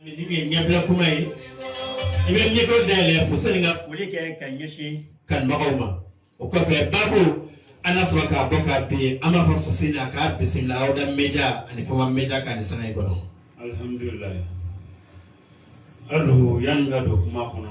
Ni min ye ɲɛbila kuma ye i bɛ miko dayɛlɛ fuseni ka foli kɛ ka ɲɛsin kanubagaw ma o kɔfɛ baabu an na sɔrɔ k'a bɔ k'a bin an b'a fɔ fuseni k'a bisimila rawda meja ani fomba meja kan nin sanga in kɔnɔ. alhamdulilayi hali yanni ka don kuma kɔnɔ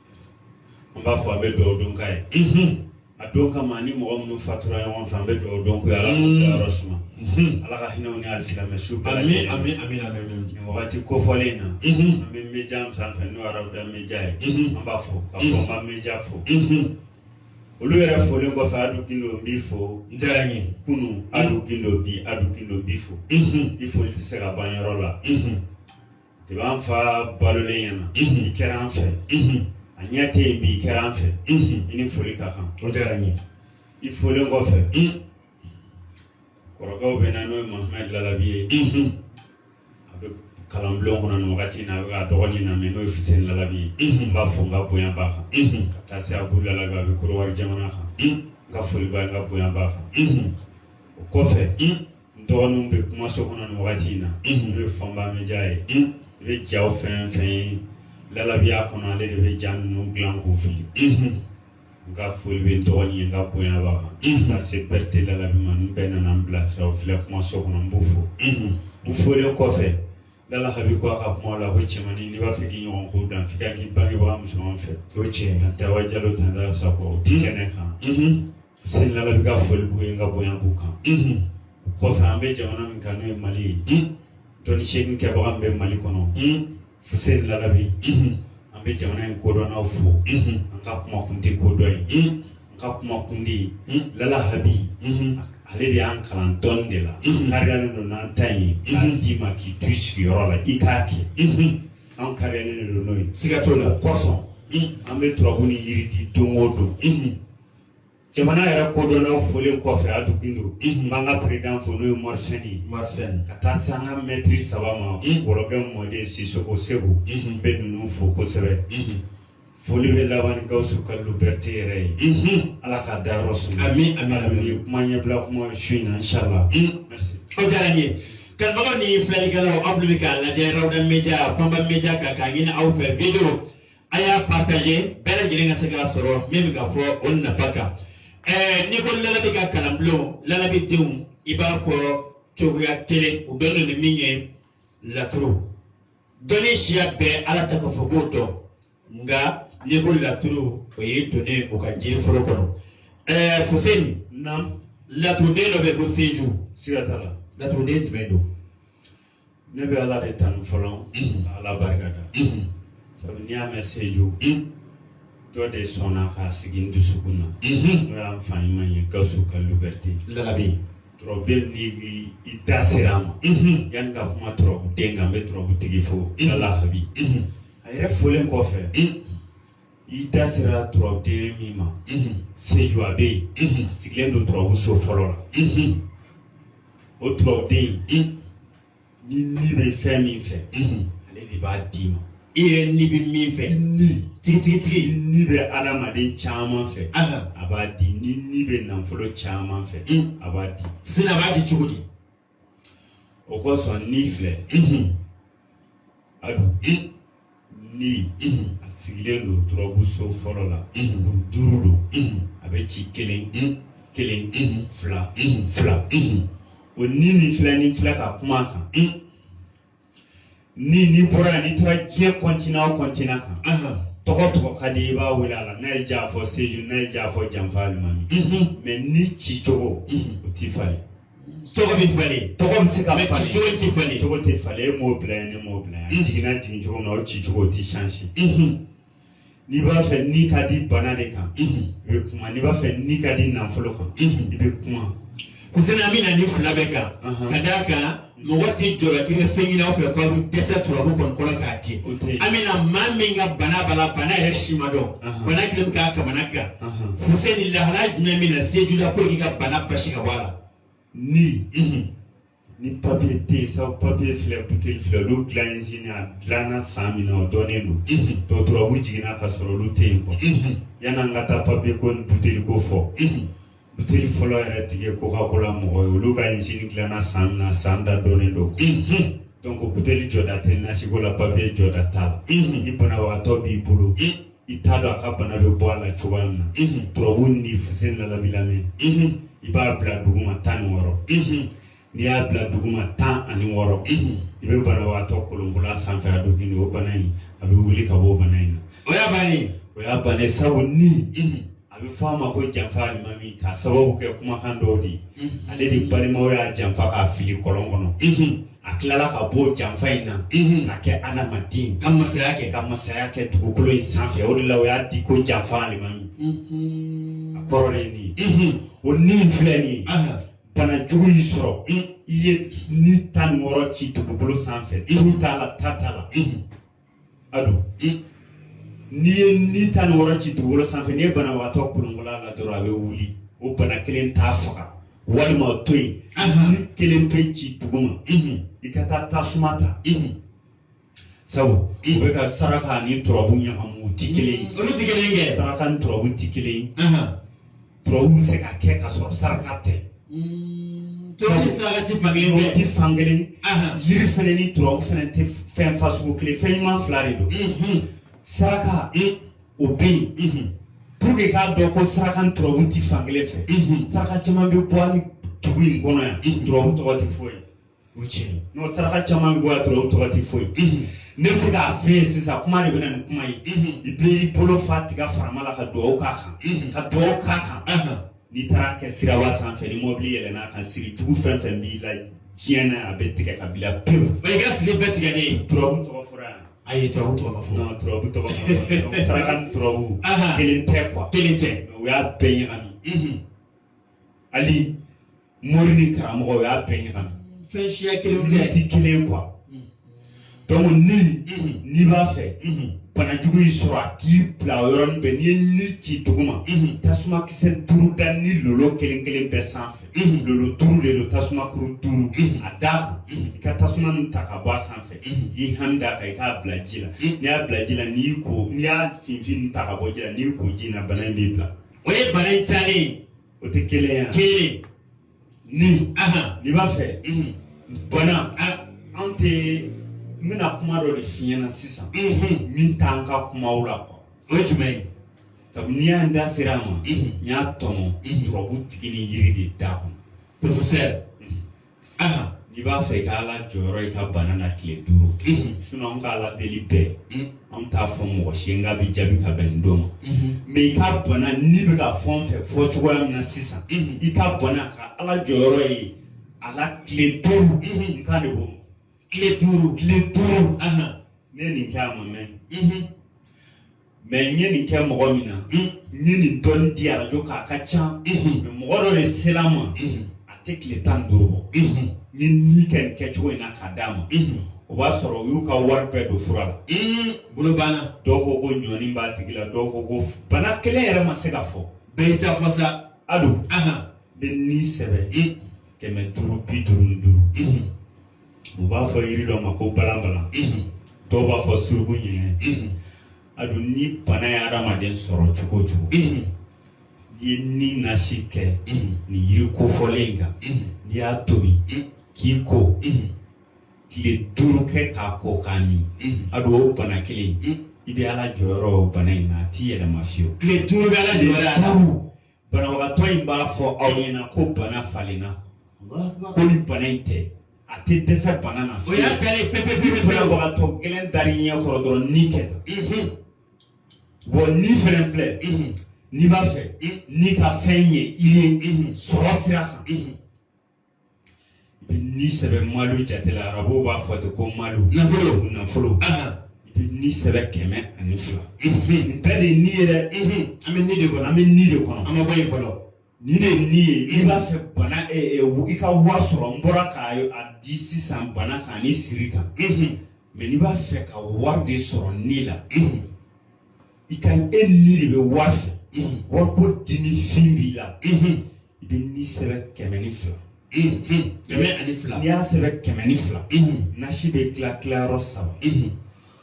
an b'a fo an bɛ dugawu don k'a ye mhm. a don kama ni mɔgɔ minnu fatura ɲɔgɔn fɛ an bɛ dugawu don k'u ye ala ka mhm. yɔrɔ suma mhm. ala ka hinɛ u ni alisilamɛ su bɛɛ lajɛlen nin wagati kofɔlen in na an bɛ meja an fan fɛ n'o rawda meja ye an b'a fo ka fomba meja fo olu yɛrɛ folen kɔfɛ adu gindo n b'i fo o diyara n ye kunu adu gindo bi adu gindo n b'i fo i foli tɛ se ka ban yɔrɔ la i b'an fa balolen ɲɛna i kɛra an fɛ a ɲɛ tɛ yen bi i kɛra an fɛ i ni foli ka kan o diyara n ye i folen kɔfɛ kɔrɔkɛw bɛ na n'o ye mahamadu lalabi ye a bɛ kalan bulon kɔnɔ nin wagati in na a bɛ ka dɔgɔnin lamɛn n'o ye fuseni lalabi ye n b'a fo n ka bonya b'a kan ka taa se ablo lalabi a bɛ kɔdiwari jamana kan n ka foli b'a n ka bonya b'a kan o kɔfɛ dɔgɔninw bɛ kumaso kɔnɔ nin wagati in na n'o ye fomba meja ye i bɛ jaw fɛn fɛn ye lalabiya kɔnɔ ale de bɛ ja ninnu dilan k'u fili n ka foli bɛ dɔgɔnin ye n ka bonya b'a kan ka se pɛrɛte lalabi ma u bɛɛ nana n bilasira u filɛ kumaso kɔnɔ n b'u fo u folen kɔfɛ lala habi ko a ka kuma la ko cɛmannin n'i b'a fɛ k'i ɲɔgɔn ko dan f'i ka k'i bangebaga musoman fɛ o ye tiɲɛ ye ka taa awa jalo tanda sakɔ o tɛ kɛnɛ kan Seni lalabi ka foli b'u ye n ka bonya b'u kan o kɔfɛ an bɛ jamana min kan n'o ye mali ye dɔnni se kɛbaga bɛ mali kɔnɔ fuseni lalabi an bɛ jamana in kodɔnnaw fo an ka kuma kun tɛ kodɔn ye an ka kuma kun de ye lala habi ale de y'an kalan dɔnni de la kariyalen don n'an ta ye k'a d'i ma k'i to i sigiyɔrɔ la i k'a kɛ an kariyalen de don n'o ye siga t'o la o kosɔn an bɛ turabu ni yiri di don o don jamana yɛrɛ kodɔnna folen kɔfɛ adu gindo n b'an ka peresidan fo n'o ye mɔrisɛni ye mɔrisɛni ka taa se an ka mɛtiri saba ma wɔlɔgɛm mɔdi sisoko segu n bɛ ninnu fo kosɛbɛ foli bɛ laban ni gawusu kalilu bɛrɛte yɛrɛ ye ala k'a dayɔrɔ suma ami ami ami ye kuma ɲɛbila kuma su in na inshallah merci o diyara n ye kanubagaw ni filɛlikɛlaw aw bɛɛ bɛ k'an lajɛ rawda media fomba media kan k'a ɲini aw fɛ video a y'a partage bɛɛ lajɛlen ka se k'a sɔrɔ min bɛ ka fɔ o nafa kan ɛɛ n'i ko lalabi ka kalanbulon lalabi denw i b'a fɔ cogoya kelen u bɛ dɔn ni min ye laturu dɔnni siya bɛɛ ala ta k'a fɔ u b'o dɔn nka n'i ko laturu o ye donnen o ka jiri fɔlɔ kɔnɔ ɛɛ fuseni laturuden dɔ bɛ yen ko seju siga t'a la laturuden jumɛn don ne bɛ ala de tanu fɔlɔ ka ala barika da sabu n'i y'a mɛn seju dɔ de sɔnna k'a sigi n dusukun na n'o y'an fa ɲuman ye gawusu kalilu berete lalabi turabu ni i da sera a ma yanni ka kuma turabuden kan n bɛ turabutigi fo ala habi a yɛrɛ folen kɔfɛ i da sera turabuden min ma seju a bɛ yen a sigilen don turabu so fɔlɔ la o turabuden in n'i ni bɛ fɛn min fɛ ale de b'a d'i ma i yɛrɛ ni bɛ min fɛ ni tigitigitigi ni bɛ adamaden caman fɛ a b'a di n'i ni bɛ nafolo caman fɛ a b'a di sini a b'a di cogo di o kosɔn nin filɛ a don ni a sigilen don turabu so fɔlɔ la duuru don a bɛ ci kelen kelen fila fila o nin nin filɛ nin filɛ ka kumakan ni nin bɔra yan n'i taara diɲɛ kɔntina o kɔntina kan tɔgɔ tɔgɔ ka di i b'a wele a la n'a ye ja fɔ seju n'a ye ja fɔ janfa alimami mɛ nin ci cogo o ti falen tɔgɔ bɛ falen tɔgɔ bɛ se ka falen mɛ ci cogo ti falen cogo tɛ falen e m'o bila yan ne m'o bila yan jiginna jigin cogo min na o ci cogo o ti sanze n'i b'a fɛ ni ka di bana de kan i bɛ kuma n'i b'a fɛ ni ka di nafolo kan i bɛ kuma fuseni min na ni fila bɛ kan ka d'a kan mɔgɔ tɛ jɔrɔ k'i bɛ fɛn ɲini aw fɛ k'aw bɛ dɛsɛ turabu kɔni kɔnɔ k'a di an bɛna maa min ka bana b'a la bana yɛrɛ si ma dɔn bana kelen bɛ k'a kamanagan fuseni lahala jumɛn min na seju la k'i ka bana basi ka bɔ a la ni ni papiye tɛ yen sabu papiye filɛ buteli filɛ olu dilan izini a dilanna san min na o dɔnnen don donc turabu jiginna ka sɔrɔ olu tɛ yen kɔ yanni an ka taa papiye ko ni buteli ko fɔ buteli fɔlɔ yɛrɛ tun ye kokakola mɔgɔ ye olu ka izini dilanna san min na san da dɔnnen don donc buteli jɔda tɛ nasiko la papiye jɔda t'a la ni banabagatɔ b'i bolo i t'a dɔn a ka bana bɛ bɔ a la cogoya min na turabu ni fuseni lalabilami i b'a bila duguma tan ni wɔɔrɔ n'i y'a bila duguma tan ani wɔɔrɔ i bɛ banabagatɔ kolonkolon a sanfɛ a bɛ bin o bana in a bɛ wuli ka bɔ o bana in na o y'a bannen o y'a bannen sabu ni a bɛ fɔ a ma ko janfa alimami k'a sababu kɛ kumakan dɔw de ye mhm. ale de balimaw y'a janfa k'a fili kɔlɔn kɔnɔ mhm. a tilala ka bɔ janfa in na mhm. ka kɛ adamaden ye ka masaya kɛ dugukolo in sanfɛ o de la o y'a di ko janfa alimami a kɔrɔ de ye nin ye o nin filɛ ni bana jugu y'i sɔrɔ i ye nin tan ni wɔɔrɔ ci dugukolo sanfɛ t'a la ta t'a la a don hmm. n'i ye ni tan ni wɔɔrɔ ci dugukolo sanfɛ n'i ye banabagatɔ kolonkolon a kan dɔrɔn a bɛ wuli o bana kelen t'a faga walima o to yen ni kelen bɛ ci duguma hmm. i ka taa tasuma ta hmm. sabu u bɛ ka saraka ni turabu ɲagamu u ti kelen ye olu ti kelen ye saraka ni turabu ti kelen ye turabu bɛ se ka kɛ ka sɔrɔ saraka tɛ turabu ni saraka tɛ fankelen tɛ tɛ fankelen yiri fana ni turabu fana tɛ fɛn fasugu kelen fɛn ɲuman fila de don saraka o bɛ yen pour que k'a dɔn ko saraka ni turabu tɛ fankelen fɛ saraka caman bɛ bɔ hali dugu in kɔnɔ yan turabu tɔgɔ tɛ fɔ yen o tiɲɛ n'o saraka caman bɛ bɔ turabu tɔgɔ tɛ fɔ yen ne bɛ se k'a f'i ye sisan kuma de bɛ na ni kuma ye i bɛ i bolo fa tiga farama la ka dugawu k'a kan ka dugawu k'a kan n'i taara a kɛ siraba sanfɛ ni mɔbili yɛlɛnna a kan siri jugu fɛn fɛn b'i la diɲɛ na a bɛ tigɛ k'i bila pewu o y'i ka siri bɛɛ tigɛ ne ye turabu tɔgɔ fɔra yan ayi turabu tɔgɔ ma fɔ non turabu tɔgɔ fɔra saraka ni turabu kelen tɛ quoi kelen tɛ u y'a bɛɛ ɲagami hali mori ni karamɔgɔw y'a bɛɛ ɲagami fɛn siya kelen tɛ tɛ kelen quoi donc ni n'i b'a fɛ banajugu y'i sɔrɔ a k'i bila o yɔrɔnin bɛɛ n'i ye ni ci duguma tasuma kisɛ duuru da ni lolo kelen kelen bɛɛ sanfɛ lolo duuru de don tasuma kuru duuru a da kun i ka tasuma nin ta ka bɔ a sanfɛ i hami d'a kan i k'a bila ji la n'i y'a bila ji la n'i y'i ko n'i y'a finfin nin ta ka bɔ ji la n'i y'i ko ji in na bana in b'i bila O ye bana in calen o tɛ kelen ye kelen ni ni b'a fɛ bana an tɛ n bɛna kuma dɔ de f'i ɲɛ na sisan min t'an ka kumaw la quoi o ye jumɛn ye sabu ni an da sera a ma n y'a tɔmɔ turabu tigi nin yɛrɛ de da kɔnɔ professeur n'i b'a fɛ i ka ala jɔyɔrɔ y'i ka bana na tile duuru sinon anw ka ala deli bɛɛ anw t'a fɔ mɔgɔ si nka bɛ jaabi ka bɛn nin don ma mais i ka bana n'i bɛ ka fɛn fɛ fɔ cogoya min na sisan i ka bana ka ala jɔyɔrɔ ye a la tile duuru n ka de bɔ tile duuru tile duuru n ye nin kɛ a ma mɛn mais n ye nin kɛ mɔgɔ min na n ye nin dɔnni di arajo kan a ka ca mais mɔgɔ dɔ de sela n ma a tɛ tile tan ni duuru bɔ n ye ni kɛ nin kɛcogo in na k'a d'a ma o b'a sɔrɔ u y'u ka wari bɛɛ don fura la u bolo banna dɔw ko ko ɲɔni b'a tigi la dɔw ko ko bana kelen yɛrɛ ma se ka fɔ bɛɛ y'i ta fɔ sa a don bɛ ni sɛbɛn kɛmɛ duuru bi duuru ni duuru u b'a fɔ yiri dɔ ma ko balanbalan dɔw b'a fɔ suruku ɲɛgɛn a dun ni bana ye adamaden sɔrɔ cogo o cogo n'i ye nin nasi kɛ nin yiri kofɔlen in kan n'i y'a tobi k'i ko tile duuru kɛ k'a ko k'a min a dun o bana kelen i bɛ ala jɔyɔrɔ o bana in na a ti yɛlɛma fiyewu tile duuru i bɛ ala jɔyɔrɔ ye a banabagatɔ in b'a fɔ aw ɲɛna ko bana falenna ko nin bana in tɛ a tɛ dɛsɛ bana na o y'a bɛɛ ye pepepepe banabagatɔ gɛlɛn dara i ɲɛ kɔrɔ dɔrɔn nin kɛ bɔn nin fɛɛrɛ filɛ n'i b'a fɛ nin ka fɛn ɲɛ i ye sɔrɔ sira kan nin sɛbɛn malu jate la arabuw b'a fɔ ten ko malu nafolo nafolo i bɛ nin sɛbɛn kɛmɛ ani fila nin bɛɛ de ye nin ye dɛ an bɛ nin de kɔnɔ an bɛ nin de kɔnɔ an ma bɔ yen fɔlɔ nin de ye nin ye n'i b'a fɛ bana i ka wari sɔrɔ n bɔra k'a di sisan bana kan ani siri kan mɛ n'i b'a fɛ ka wari de sɔrɔ nin la i ka e min de bɛ wari fɛ wariko dimi fin b'i la i bɛ nin sɛbɛn kɛmɛ ni fila kɛmɛ ani fila n'i y'a sɛbɛn kɛmɛ ni fila nasi bɛ tila tilayɔrɔ saba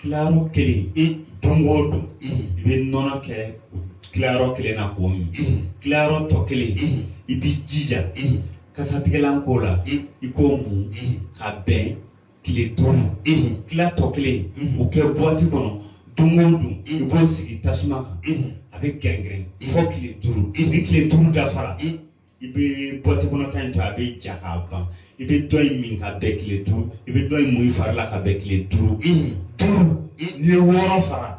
tilayɔrɔ kelen don o don i bɛ nɔnɔ kɛ tilayɔrɔ kelen na k'o min tilayɔrɔ tɔ kelen i b'i jija kasatigɛlan k'o la i k'o mun ka bɛn tile duuru tila tɔ kelen o kɛ buwati kɔnɔ don o don i b'o sigi tasuma kan a bɛ gɛrɛngɛrɛn fɔ tile duuru ni tile duuru dafara i bɛ buwati kɔnɔ ta in to a bɛ ja k'a ban i bɛ dɔ in min ka bɛn tile duuru i bɛ dɔ in mun i fari la ka bɛn tile duuru duuru n'i ye wɔɔrɔ fara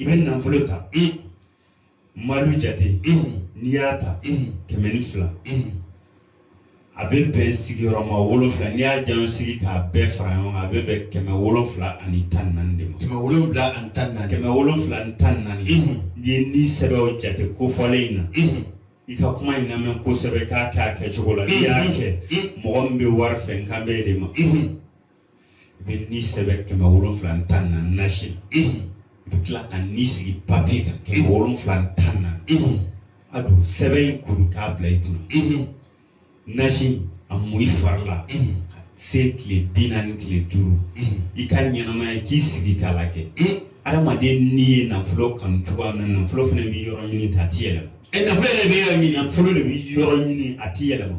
i bɛ nafolo ta malu jate n'i y'a ta kɛmɛ ni fila a bɛ bɛn sigiyɔrɔma wolonfila n'i y'a jalo sigi k'a bɛɛ fara ɲɔgɔn kan a bɛ bɛn kɛmɛ wolonfila ani tan naani de ma kɛmɛ wolonfila ani tan naani kɛmɛ wolonfila ani tan naani n'i ye nin sɛbɛn o jate kofɔlen in na i ka kuma in lamɛn kosɛbɛ k'a kɛ a kɛcogo la n'i y'a kɛ mɔgɔ min bɛ wari fɛ n kan b'e de ma i bɛ nin sɛbɛn kɛmɛ wolonfila ni tan naani nasi i bɛ tila ka nin sigi papiye kan kɛmɛ wolonfila ni tan naani a don sɛbɛn in kuru k'a bila i kun nasi a mun i fari la ka se tile bi naani tile duuru i ka ɲɛnamaya k'i sigi k'a lajɛ adamaden n'i ye nafolo kanu cogoya min na nafolo fana b'i yɔrɔ ɲini ten a ti yɛlɛma nafolo yɛrɛ b'i yɔrɔ ɲini nafolo de b'i yɔrɔ ɲini a ti yɛlɛma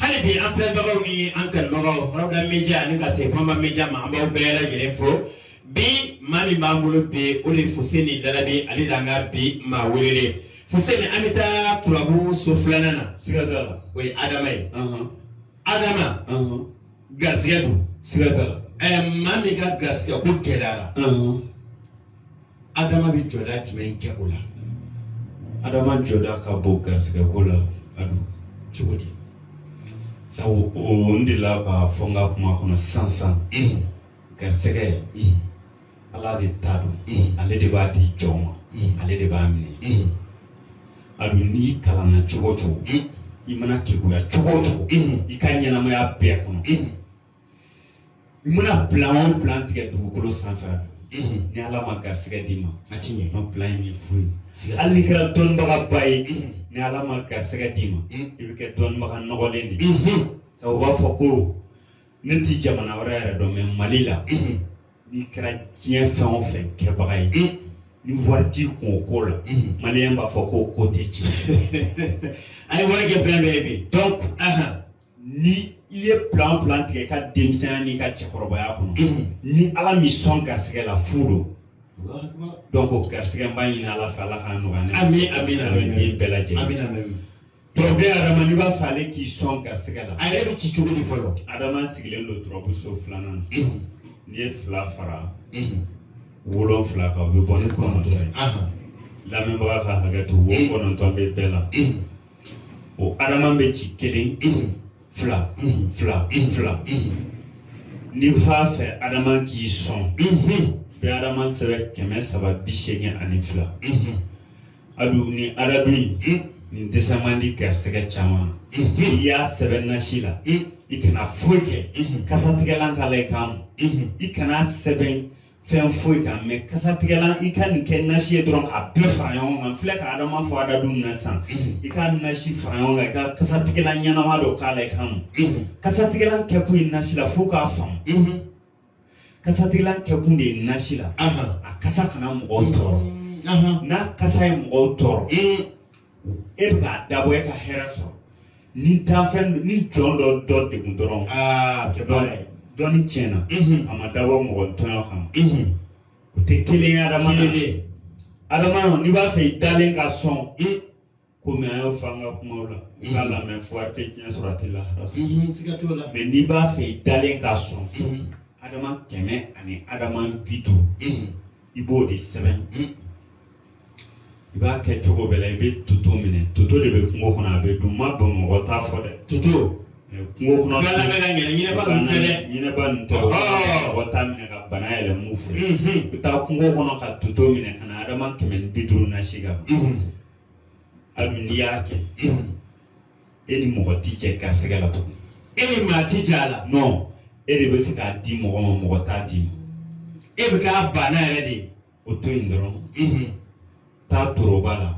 hali bi an filɛbagaw ni an kanubagaw hɔrɔnda meja ani ka se fɔnba meja ma an b'aw bɛɛ lajɛlen fo bi maa min b'an bolo bi o de fuseni dalabi ale de an ka bi maa welelen fuseni an bɛ taa turabu so filanan na siga t'a la o ye adama ye Ahan, adama ahan, garisɛgɛ don siga t'a la ɛɛ maa min ka garisɛgɛ ko gɛlɛyara Ahan, adama bɛ jɔda jumɛn kɛ o la adama jɔda ka bon garisigɛ ko la a don cogo di sabu o n delila k'a fɔ n ka kuma kɔnɔ sisan sisan garisɛgɛ ala de ta don ale de b'a di jɔn ma ale de b'a minɛ a dun n'i kalanna cogo o cogo i mana keguya cogo o cogo i ka ɲɛnamaya bɛɛ kɔnɔ i mana plan o plan tigɛ dugukolo sanfɛ ni ala ma garisigɛ d'i ma a ti ɲɛ ma plan in ye foyi hali n'i kɛra dɔnnibagaba ye ni ala ma garisigɛ d'i ma i bɛ kɛ dɔnnibaga nɔgɔlen de sabu n b'a fɔ ko ne ti jamana wɛrɛ yɛrɛ dɔn mɛ mali la n'i kɛra diɲɛ fɛn o fɛn kɛbaga ye ni wari t'i kun o ko la maliyɛn b'a fɔ ko ko tɛ tiɲɛ an ye wari kɛ fɛn bɛɛ ye bi donc ni i ye plan plan tigɛ i ka denmisɛnya n'i ka cɛkɔrɔbaya kɔnɔ ni ala m'i sɔn garisigɛ la fu don donc o garisigɛ n b'a ɲini ala fɛ ala k'a nɔgɔya ne ami ami ami den bɛɛ lajɛlen ami ami turabu adama n'i b'a fɛ ale k'i sɔn garisigɛ la a yɛrɛ bɛ ci cogo di fɔlɔ adama sigilen don turabu so filanan na n'i ye fila fara wolonfila kan o bɛ bɔ ni kɔnɔntɔn ye lamɛnbaga ka hakɛ to wo kɔnɔntɔn bɛ bɛɛ la o adama bɛ ci kelen fila fila fila n'i b'a fɛ adama k'i sɔn i bɛ adama sɛbɛn kɛmɛ saba bi seegin ani fila a dun ni arabu nin dɛsɛ man di garisɛgɛ caman ma n'i y'a sɛbɛn nasi la i kana foyi kɛ kasatigɛlan k'a la i k'a mu i kan'a sɛbɛn fɛn foyi kan mɛ kasatigɛlan i ka nin kɛ nasi ye dɔrɔn k'a bɛɛ fara ɲɔgɔn kan fɔlɔ ka adama fɔ a da dun na sisan i ka nasi fara ɲɔgɔn kan i ka kasatigɛlan ɲɛnama dɔ k'a la i k'a mu kasatigɛlan kɛkun ye nasi la fo k'a faamu kasatigɛlan kɛkun de ye nasi la a kasa kana mɔgɔw tɔɔrɔ n'a kasa ye mɔgɔw tɔɔrɔ e bɛ k'a dabɔ e ka hɛrɛ sɔrɔ ni danfɛn ni jɔn dɔ dɔ degun dɔrɔn aa kɛ baara ye dɔnni tiɲɛna a ma dabɔ mɔgɔ tɔɲɔ kama o tɛ kelen ye adamadenya ye adama n'i b'a fɛ i dalen ka sɔn komi an y'o fɔ an ka kumaw la i k'a lamɛn fo a tɛ diɲɛ sɔrɔ a tɛ lahara sɔrɔ mɛ n'i b'a fɛ i dalen ka sɔn adama kɛmɛ ani adama bi duuru i b'o de sɛbɛn i b'a kɛ cogo bɛɛ la i bɛ toto minɛ toto de bɛ kungo kɔnɔ a bɛ dun n ma bamakɔ ta fɔ dɛ toto Eh, kungo kɔnɔ Gala bɛ ka ɲɛ, ɲinɛba ninnu tɛ dɛ. ɲinɛba ninnu tɛ o Ɔhɔɔ. mɔgɔ t'a minɛ ka bana yɛlɛma n fɛ Mhm. i bɛ taa kungo kɔnɔ ka toto minɛ ka na adama kɛmɛ ni bi duuru nasi k'a ma Mhm. hali n'i y'a kɛ Mhm. e ni mɔgɔ ti jɛ garisigɛ la tugun e ni maa ti jɛ a la non e de bɛ se k'a di mɔgɔ ma mɔgɔ t'a d'i ma e bɛ kɛ baana yɛrɛ de o to yen dɔrɔn taa toroba la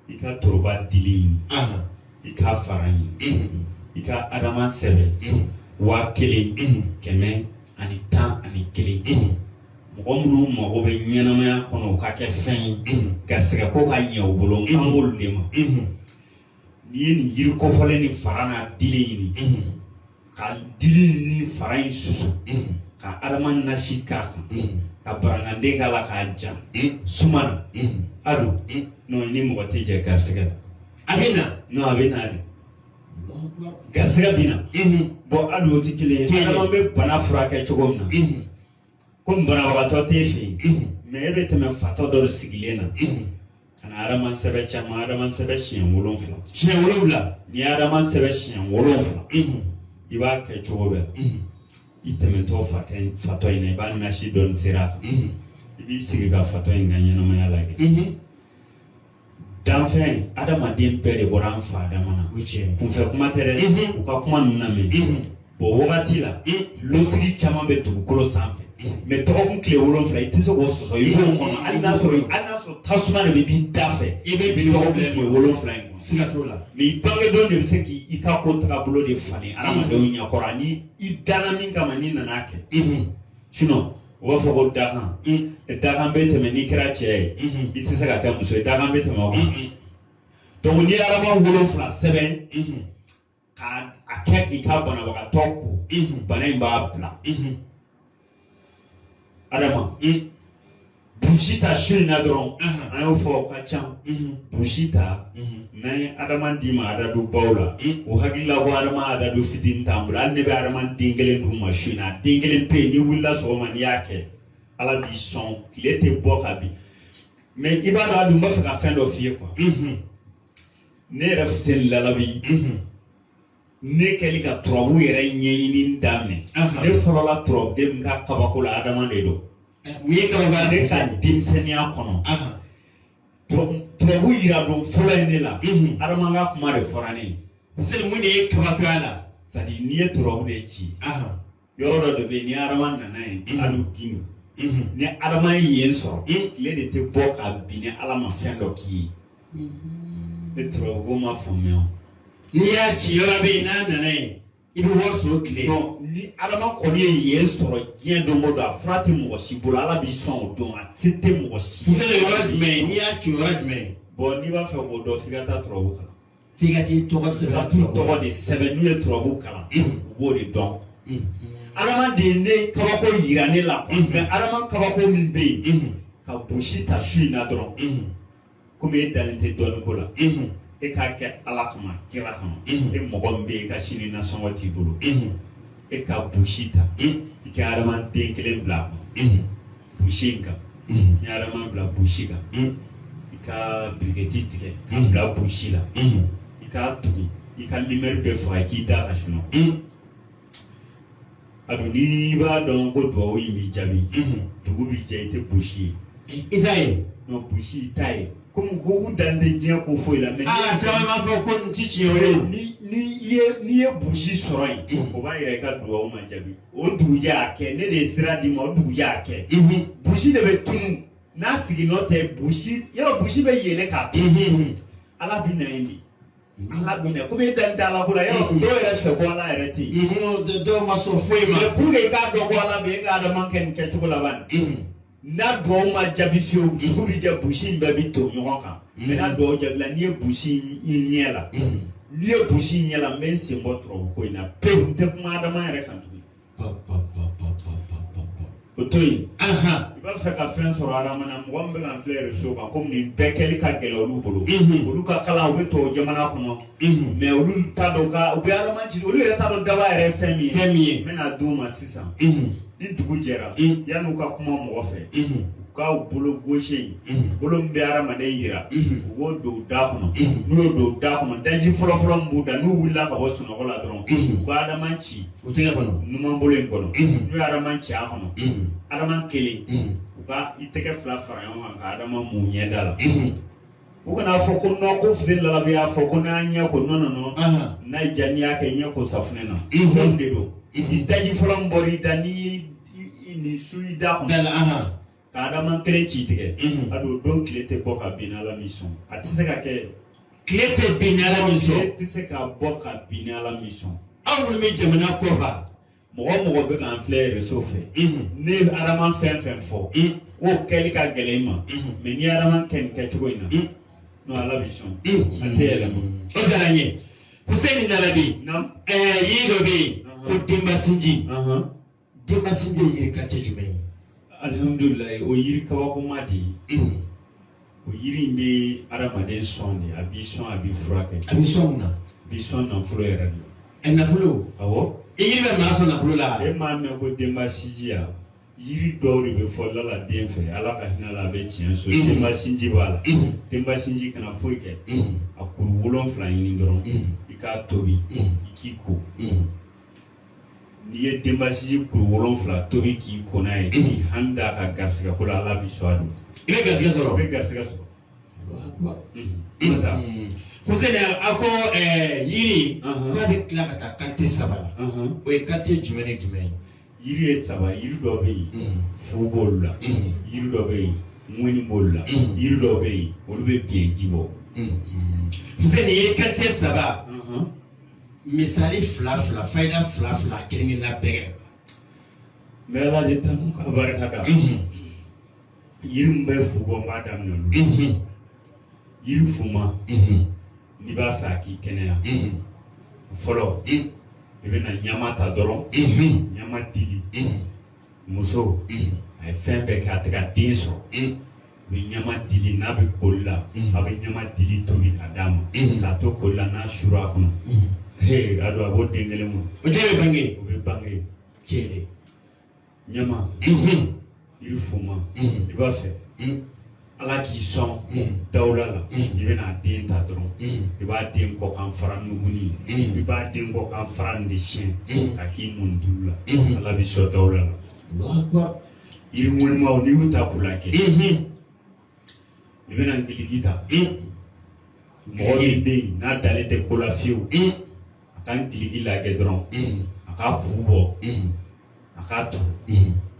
i ka toroba dili ɲini i k'a fara ɲini i ka adama sɛbɛn waa kelen kɛmɛ ani tan ani kelen mɔgɔ minnu mago bɛ ɲɛnamaya kɔnɔ u ka kɛ fɛn ye garisɛgɛ ko ka ɲɛ u bolo n kan b'olu de ma n'i ye nin yiri kɔfɔlen ni fara n'a dili ɲini ka dili ni fara in susu ka adama nasi k'a kan ka baranganden k'a la k'a ja suma na ado non i ni mɔgɔ tɛ jɛ garisɛgɛ la a bɛ na non a bɛ na de garisɛgɛ bɛ na bɔn hali o tɛ kelen ye adama bɛ bana furakɛ cogo min na ko banabagatɔ t'e fɛ mɛ e bɛ tɛmɛ fatɔ dɔ de sigilen na ka na adama sɛbɛ caman adama sɛbɛ siɲɛ wolonfila siɲɛ wolonfila ni adama sɛbɛ siɲɛ wolonfila i b'a kɛ cogo bɛɛ i tɛmɛtɔ fatɔ in fatɔ in na i b'a nasi dɔɔni seri a kan i b'i sigi ka fatɔ in ka ɲɛnamaya lajɛ danfɛn adamaden bɛɛ de bɔra an fa adama na kunfɛ kuma tɛ dɛ u ka kuma ninnu lamɛn bɔn wagati la losigi caman bɛ dugukolo sanfɛ mɛ dɔgɔkun tile wolonfila i tɛ se k'o sɔsɔ i b'o kɔnɔ hali n'a sɔrɔ hali n'a sɔrɔ tasuma de bɛ b'i da fɛ i bɛ bi dɔgɔkun tile wolonfila in kɔnɔ siga t'o la mɛ i bangedon de bɛ se k'i ka ko tagabolo de falen adamadenw ɲɛkɔrɔ ani i danna min kama n'i nana kɛ sinɔn u b'a fɔ ko dakan dakan bɛ tɛmɛ n'i kɛra cɛ ye i tɛ se ka kɛ muso ye dakan bɛ tɛmɛ o kan donc n'i ye adama wolonfila sɛbɛn ka a kɛ k'i ka banabagatɔ ko bana in b'a bila adama burusi ta su in na dɔrɔn an y'o fɔ o ka ca burusi ta n'an ye adama d'i ma a dadonbaw la o hakilila ko adama dadon fitini t'an bolo hali ne bɛ adama den kelen d'u ma su in na den kelen pe n'i wulila sɔgɔma n'i y'a kɛ ala b'i sɔn tile tɛ bɔ ka bin mɛ i b'a dɔn a dun b'a fɛ ka fɛn dɔ f'i ye kuwa ne yɛrɛ selilala bi ne kɛli ka turabu yɛrɛ ɲɛɲini daminɛ ne fɔlɔla turabu den min ka kabako la adama de don n'i ye kabako ne ka denmisɛnninya kɔnɔ turabu yira don fɔlɔ ye ne la adama ka kuma de fɔra ne ye sani mun de ye kabakala la sadi n'i ye turabu de ci yɔrɔ dɔ de bɛ yen ni adama nana yen hali bin don ni adama ye yen sɔrɔ tile de tɛ bɔ ka bin ni ala ma fɛn dɔ k'i ye ne turabu ko ma faamuya n'i y'a ci yɔrɔ bɛ yen n'a nana yen i bɛ wari sɔrɔ tile ni adama kɔni ye yen sɔrɔ diɲɛ don o don a fura tɛ mɔgɔ si bolo ala b'i sɔn o don a se tɛ mɔgɔ si. fɛn de yɔrɔ jumɛn ye n'i y'a ci yɔrɔ jumɛn ye. bɔn n'i b'a fɛ k'o dɔn f'i ka taa turabu kalan. f'i ka t'i tɔgɔ sɛbɛn ka t'u tɔgɔ de sɛbɛn n'u ye turabu kalan. u b'o de dɔn. adama de ye ne kabako yira ne la. mɛ adama kabako min bɛ yen. ka busi ta su in na dɔrɔn. komi e dalen tɛ dɔnni ko la e k'a kɛ ala kama kira kama e mɔgɔ min bɛ yen ka sini nasɔngɔ t'i bolo e ka busi ta i ka adamaden kelen bila a kɔnɔ busi in kan n'i ye adama bila busi kan i ka biriketi tigɛ k'a bila busi la i k'a tugu i ka limɛri bɛɛ faga k'i da ka sunɔgɔ a dun n'i b'a dɔn ko duwawu in bɛ jaabi dugu bɛ jɛ i tɛ busi ye i t'a ye nka busi i t'a ye komi ko u dalen tɛ diɲɛ ko foyi la mɛ aa caman b'a fɔ ko nin tɛ tiɲɛ o ye ni ni i ye n'i ye busi sɔrɔ yen o b'a yira i ka duwawu ma jaabi o dugujɛ a kɛ ne de ye sira d'i ma o dugujɛ a kɛ Mhm. busi de bɛ tunu n'a siginɔ tɛ busi yɔrɔ busi bɛ yeelen ka tunu Mhm. ala bɛ na yen de Ala minɛ komi e tɛ da ala ko la yɔrɔ mhm. dɔw yɛrɛ fɛ ko ala yɛrɛ tɛ yen dɔw ma sɔn foyi ma mɛ puruke i k'a dɔn ko ala bɛ e ka adama kɛ nin kɛcogo la bani mhm. n'a dugawu ma jaabi fiyewu mhm. dugu bɛ jɛ busi in bɛɛ bɛ ton ɲɔgɔn kan mɛ n'a dugawu jaabila n'i ye busi in ɲɛ la n'i ye busi in ɲɛ la n bɛ n sen bɔ turabu ko in na pewu n tɛ kuma adama yɛrɛ kan tuguni o to yen i b'a fɛ ka fɛn sɔrɔ adama na mɔgɔ min bɛ ka n filɛ reseau kan komi nin bɛɛ kɛli ka gɛlɛn olu bolo olu ka kalan u bɛ tubabu jamana kɔnɔ mɛ olu t'a dɔn ka u bɛ adama ci olu yɛrɛ t'a dɔn adama yɛrɛ ye fɛn min ye fɛn min ye n bɛna d'u ma sisan ni dugu jɛra yan'u ka kuma mɔgɔ fɛ u ka u bolo goshe in bolo min bɛ adamaden yira u b'o don u da kɔnɔ n'u y'o don u da kɔnɔ daji fɔlɔfɔlɔ min b'u da n'u wulila ka bɔ sunɔgɔ la dɔrɔn u ka adama ci U tɛgɛ kɔnɔ numan bolo in kɔnɔ n'u ye adama ci a kɔnɔ adama kelen u ka i tɛgɛ fila fara ɲɔgɔn kan ka adama mun ɲɛda la u kan'a fɔ ko nɔn ko fili la bɛ y'a fɔ ko n'a ɲɛ ko nɔn nɔn n'a ja n'i y'a kɛ ɲɛ ko safunɛ na fɛn de don i daji fɔlɔ bɔ i da ni nin su i da kun ka adama kelen ci tigɛ a don don tile tɛ bɔ ka bin ala m'i sɔn a tɛ se ka kɛ tile tɛ bin ala m'i sɔn tile tɛ se ka bɔ ka bin ala m'i sɔn aw minnu bɛ jamana kɔkan mɔgɔ o mɔgɔ bɛ k'an filɛ reso fɛ ne ye adama fɛn fɛn fɔ o kɛli ka gɛlɛn i m'a mɛn n'i ye adama kɛ nin kɛcogo in na n'o ala b'i sɔn a tɛ yɛlɛma o kɛra n ye fuseni nana bi ɛɛ yiri dɔ bɛ yen ko denbasinji Denbasinji ye yiri kati jumɛn ye? Alihamdulilayi o yiri kabakoma de ye. O yiri in bɛ adamaden sɔn de, a b'i sɔn a b'i furakɛ. A b'i sɔn mun na? A b'i sɔn nafolo yɛrɛ de la. Ɛ nafolo? Awɔ. I yiri bɛ maa sɔn nafolo la? E m'a mɛn ko denbasinji ya? Yiri dɔw de bɛ fɔ lala den fɛ Ala ka hinɛ la a bɛ tiɲɛ so denbasinji b'a la denbasinji kana foyi kɛ a kuru wolonfila ɲini dɔrɔn i k'a tobi i k'i ko. n'i ye denbasinji kuru wolonfila tobi k'i ko n'a ye k'i hami d'a ka garisigɛ ko la ala b'i sɔn a don i bɛ garisigɛ sɔrɔ i bɛ garisigɛ sɔrɔ Fuseni a ko yiri k'a bɛ tila ka taa kalite saba la o ye kalite jumɛn ni jumɛn ye yiri ye saba yiri dɔ bɛ yen fu b'olu la yiri dɔ bɛ yen ŋuni b'olu la yiri dɔ bɛ yen olu bɛ biɲɛ ji bɔ Fuseni ye kalite saba misali fila fila fayida fila fila kelen kelenna bɛɛ kɛ. N bɛ Ala de tanu ka barika da. Yiri min bɛ fu bɔ n b'a daminɛ olu. Yiri fuma. N'i b'a fɛ a k'i kɛnɛya. Fɔlɔ. I bɛna ɲama ta dɔrɔn. Ɲama dili. muso a ye fɛn bɛɛ kɛ a tɛ ka den sɔrɔ a bɛ ɲama dili n'a bɛ koli la a bɛ ɲama dili tobi ka d'a ma k'a to koli la n'a sura a kɔnɔ hee a don a b'o den kelen mun o den bɛ bange o bɛ bange kelen ɲama yiri fuma i b'a fɛ ala k'i sɔn dawula la i bɛna a den ta dɔrɔn i b'a den kɔ kan fara nuguni i b'a den kɔ kan fara nin de siyɛn ka k'i mun tulu la ala b'i sɔn dawula la yiri ŋɔnimaw n'i y'u ta k'u la kɛ i bɛna ngiliki ta mɔgɔ min bɛ yen n'a dalen tɛ ko la fiyewu a ka ngiliki lajɛ dɔrɔn a ka fu bɔ a k'a to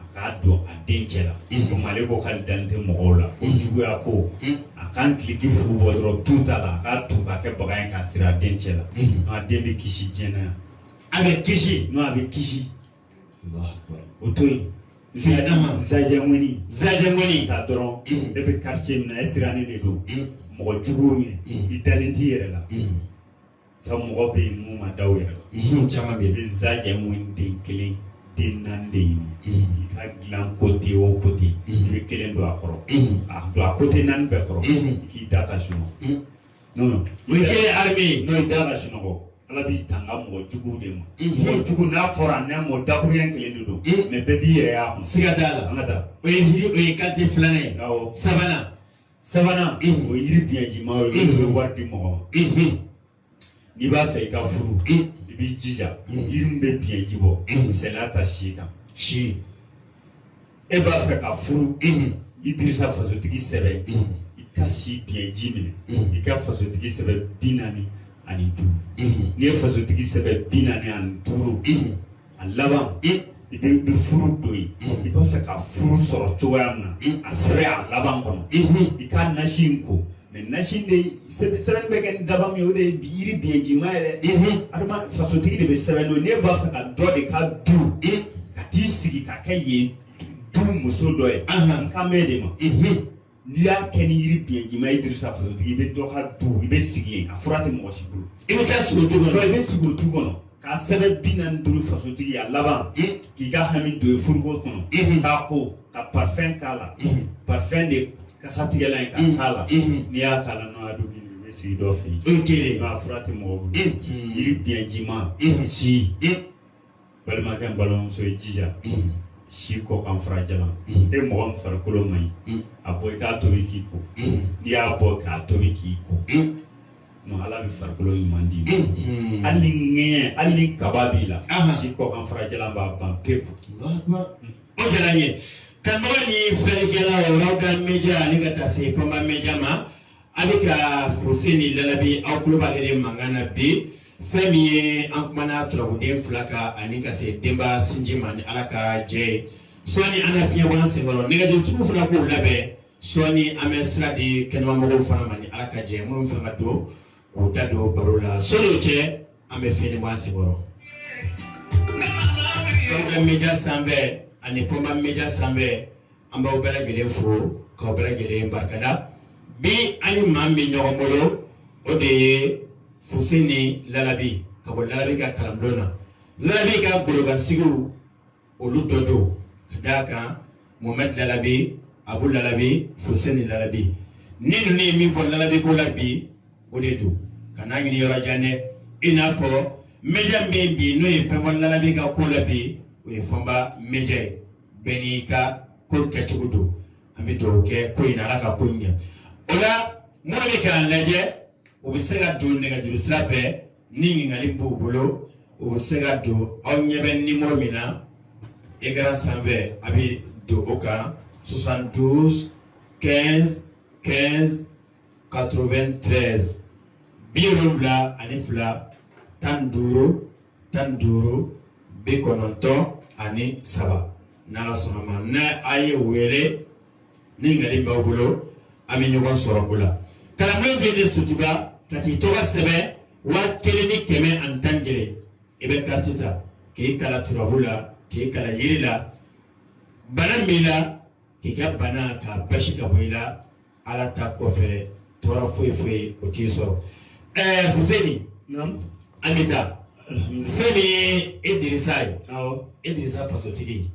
a k'a don a den cɛ la komi ale ko k'ale dalen tɛ mɔgɔw la ko juguya ko a ka ntiliki fu bɔ dɔrɔn tu t'a la a k'a tu k'a kɛ baga ye k'a siri a den cɛ la n'o a den bɛ kisi diɲɛ na yan a bɛ kisi n'o a bɛ kisi o to yen zɛdama zɛzɛmuni zɛzɛmuni ta dɔrɔn e bɛ quartier min na e sirannen de don mɔgɔ juguw ɲɛ i dalen t'i yɛrɛ la sabu mɔgɔ bɛ yen min ma da u yɛrɛ la caman bɛ yen bɛ zajɛ mun den kelen den naani de ɲini i ka dilan kote o kote i bɛ kelen don a kɔrɔ a don a kote naani bɛɛ kɔrɔ i k'i da ka sunɔgɔ non non o ye kelen arime ye n'o ye da ka sunɔgɔ ala b'i tanga mɔgɔ juguw de ma mɔgɔ jugu n'a fɔra n'a mɔ dakuruɲɛ kelen de don mɛ bɛɛ b'i yɛrɛ y'a kun siga t'a la an ka da o ye yiri o ye kante filanan ye sabanan sabanan o yiri biɲɛjima o yiri bɛ wari di mɔgɔ ma n'i b'a fɛ i ka furu i b'i jija yiri min bɛ biɲɛji bɔ misaliya ta si kan si e b'a fɛ ka furu idirisa fasotigi sɛbɛn i ka si biɲɛji minɛ i ka fasotigi sɛbɛn bi naani ani duuru n'i ye fasotigi sɛbɛn bi naani ani duuru a laban i bɛ i bɛ furu don yen i b'a fɛ ka furu sɔrɔ cogoya min na a sɛbɛn a laban kɔnɔ i ka nasi in ko mɛ nasi de sɛbɛn bɛ kɛ ni daba min ye o de ye bi yiri biɲɛjima yɛrɛ adama fasotigi de bɛ sɛbɛn n'o ye n'e b'a fɛ ka dɔ de ka du ka t'i sigi ka kɛ yen du muso dɔ ye an kan b'o de ma n'i y'a kɛ ni yiri biɲɛjima idirisa fasotigi i bɛ dɔ ka du i bɛ sigi yen a fura tɛ mɔgɔ si bolo i bɛ taa sigi o du kɔnɔ i bɛ sigi o du kɔnɔ k'a sɛbɛn bi naani duuru fasotigi a laban hmm. k'i ka hami don ye furuko kɔnɔ hmm. k'a ko ka parfɛn k'a la hmm. parfɛn de kasa tigɛlan ye ka k'a la n'i y'a k'a la n'o y'a dɔn bɛ sigi dɔ fɛ yen o kelen nka fura tɛ mɔgɔ bolo yiri biɲɛjima si balimakɛ n balimamuso i jija si kɔkanfara jalan e mɔgɔ min farikolo man ɲi a bɔ i k'a tobi k'i ko n'i y'a bɔ k'a tobi k'i ko non ala bɛ farikolo ɲuman d'i ma hali ni ŋɛɲɛ hali ni kaba b'i la si kɔkanfara jalan b'a ban pewu o jala n ye kanbaga ni filɛlikɛla o y'aw ka meja ani ka taa se fɔnba meja ma a bɛ ka fuseni lalabi aw tulo b'ale de mankan na bi fɛn min ye an kumana turabuden fila kan ani ka se denbasinji ma ni ala ka jɛ ye sɔɔni an ka fiɲɛ bɔ an senkɔrɔ nɛgɛjurutigiw fana k'u labɛn sɔɔni an bɛ sira di kɛnɛmamɔgɔw fana ma ni ala ka jɛ minnu fana ka don k'u da don baro la sani o cɛ an bɛ fiɲɛ bɔ an senkɔrɔ. Fɔnba media sanfɛ ani fɔnba media sanfɛ an b'aw bɛɛ lajɛlen fo k'aw bɛɛ lajɛlen barikada bi an ni maa min ɲɔgɔn bolo o de ye fuseni lalabi ka bɔ lalabi ka kalanbulon na lalabi ka golokansigiw olu dɔ don ka d'a kan mohamɛd lalabi abu lalabi fuseni lalabi ni ninnu ye min fɔ lalabi ko la bi o de don kan'a ɲini yɔrɔ jan dɛ i n'a fɔ meja min bi n'o ye fɛn fɔ lalabi ka ko la bi o ye fɔnba meja ye bɛɛ n'i ka ko kɛcogo don an bɛ dugawu kɛ ko in ala ka ko in ɲɛ o la minnu bɛ k'an lajɛ u bɛ se ka don nɛgɛjuru sira fɛ ni ɲininkali b'u bolo u bɛ se ka don aw ɲɛ bɛ nimoro min na ekaran sanfɛ a bɛ don o kan 72 15 15 93 bi wolonwula ani fila tan ni duuru tan ni duuru bi kɔnɔntɔn ani saba n'ala sɔnn'a ma n'a ye wele ɲininkali b'aw bolo an bɛ ɲɔgɔn sɔrɔ o la kalanbulon bɛ de sutuba ka t'i tɔgɔ sɛbɛn wa kelen ni kɛmɛ ani tan ni kelen i bɛ kariti ta k'i kala turabu la k'i kala yiri la bana min la k'i ka bana k'a basi ka bɔ i la ala ta kɔfɛ tɔɔrɔ foyi foyi o t'i sɔrɔ ɛɛ fuseni an bɛ taa fɛn min ye idirisa ye idirisa fasotigi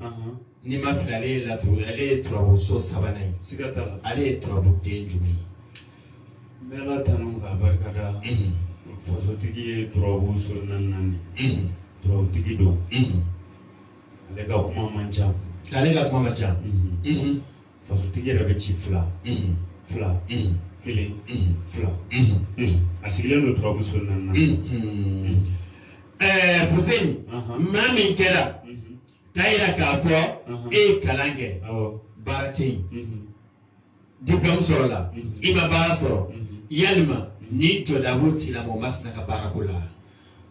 n'i ma fili ale ye laturu ale ye turabuso sabanan ye ale ye turabu den jumɛn ye n bɛ ala tanu k'a barika da fasotigi ye turabuso naaninan de ye turabutigi don ale ka kuma man ca ale ka kuma man ca fasotigi yɛrɛ bɛ ci fila fila kelen fila a sigilen don turabuso naani na ɛɛ fuseni maa min kɛra k'a yira k'a fɔ e ye kalan kɛ baara tɛ yen diplɔmu sɔrɔla i ma baara sɔrɔ yalima ni jɔda b'o tigilamɔgɔ masina ka baarako la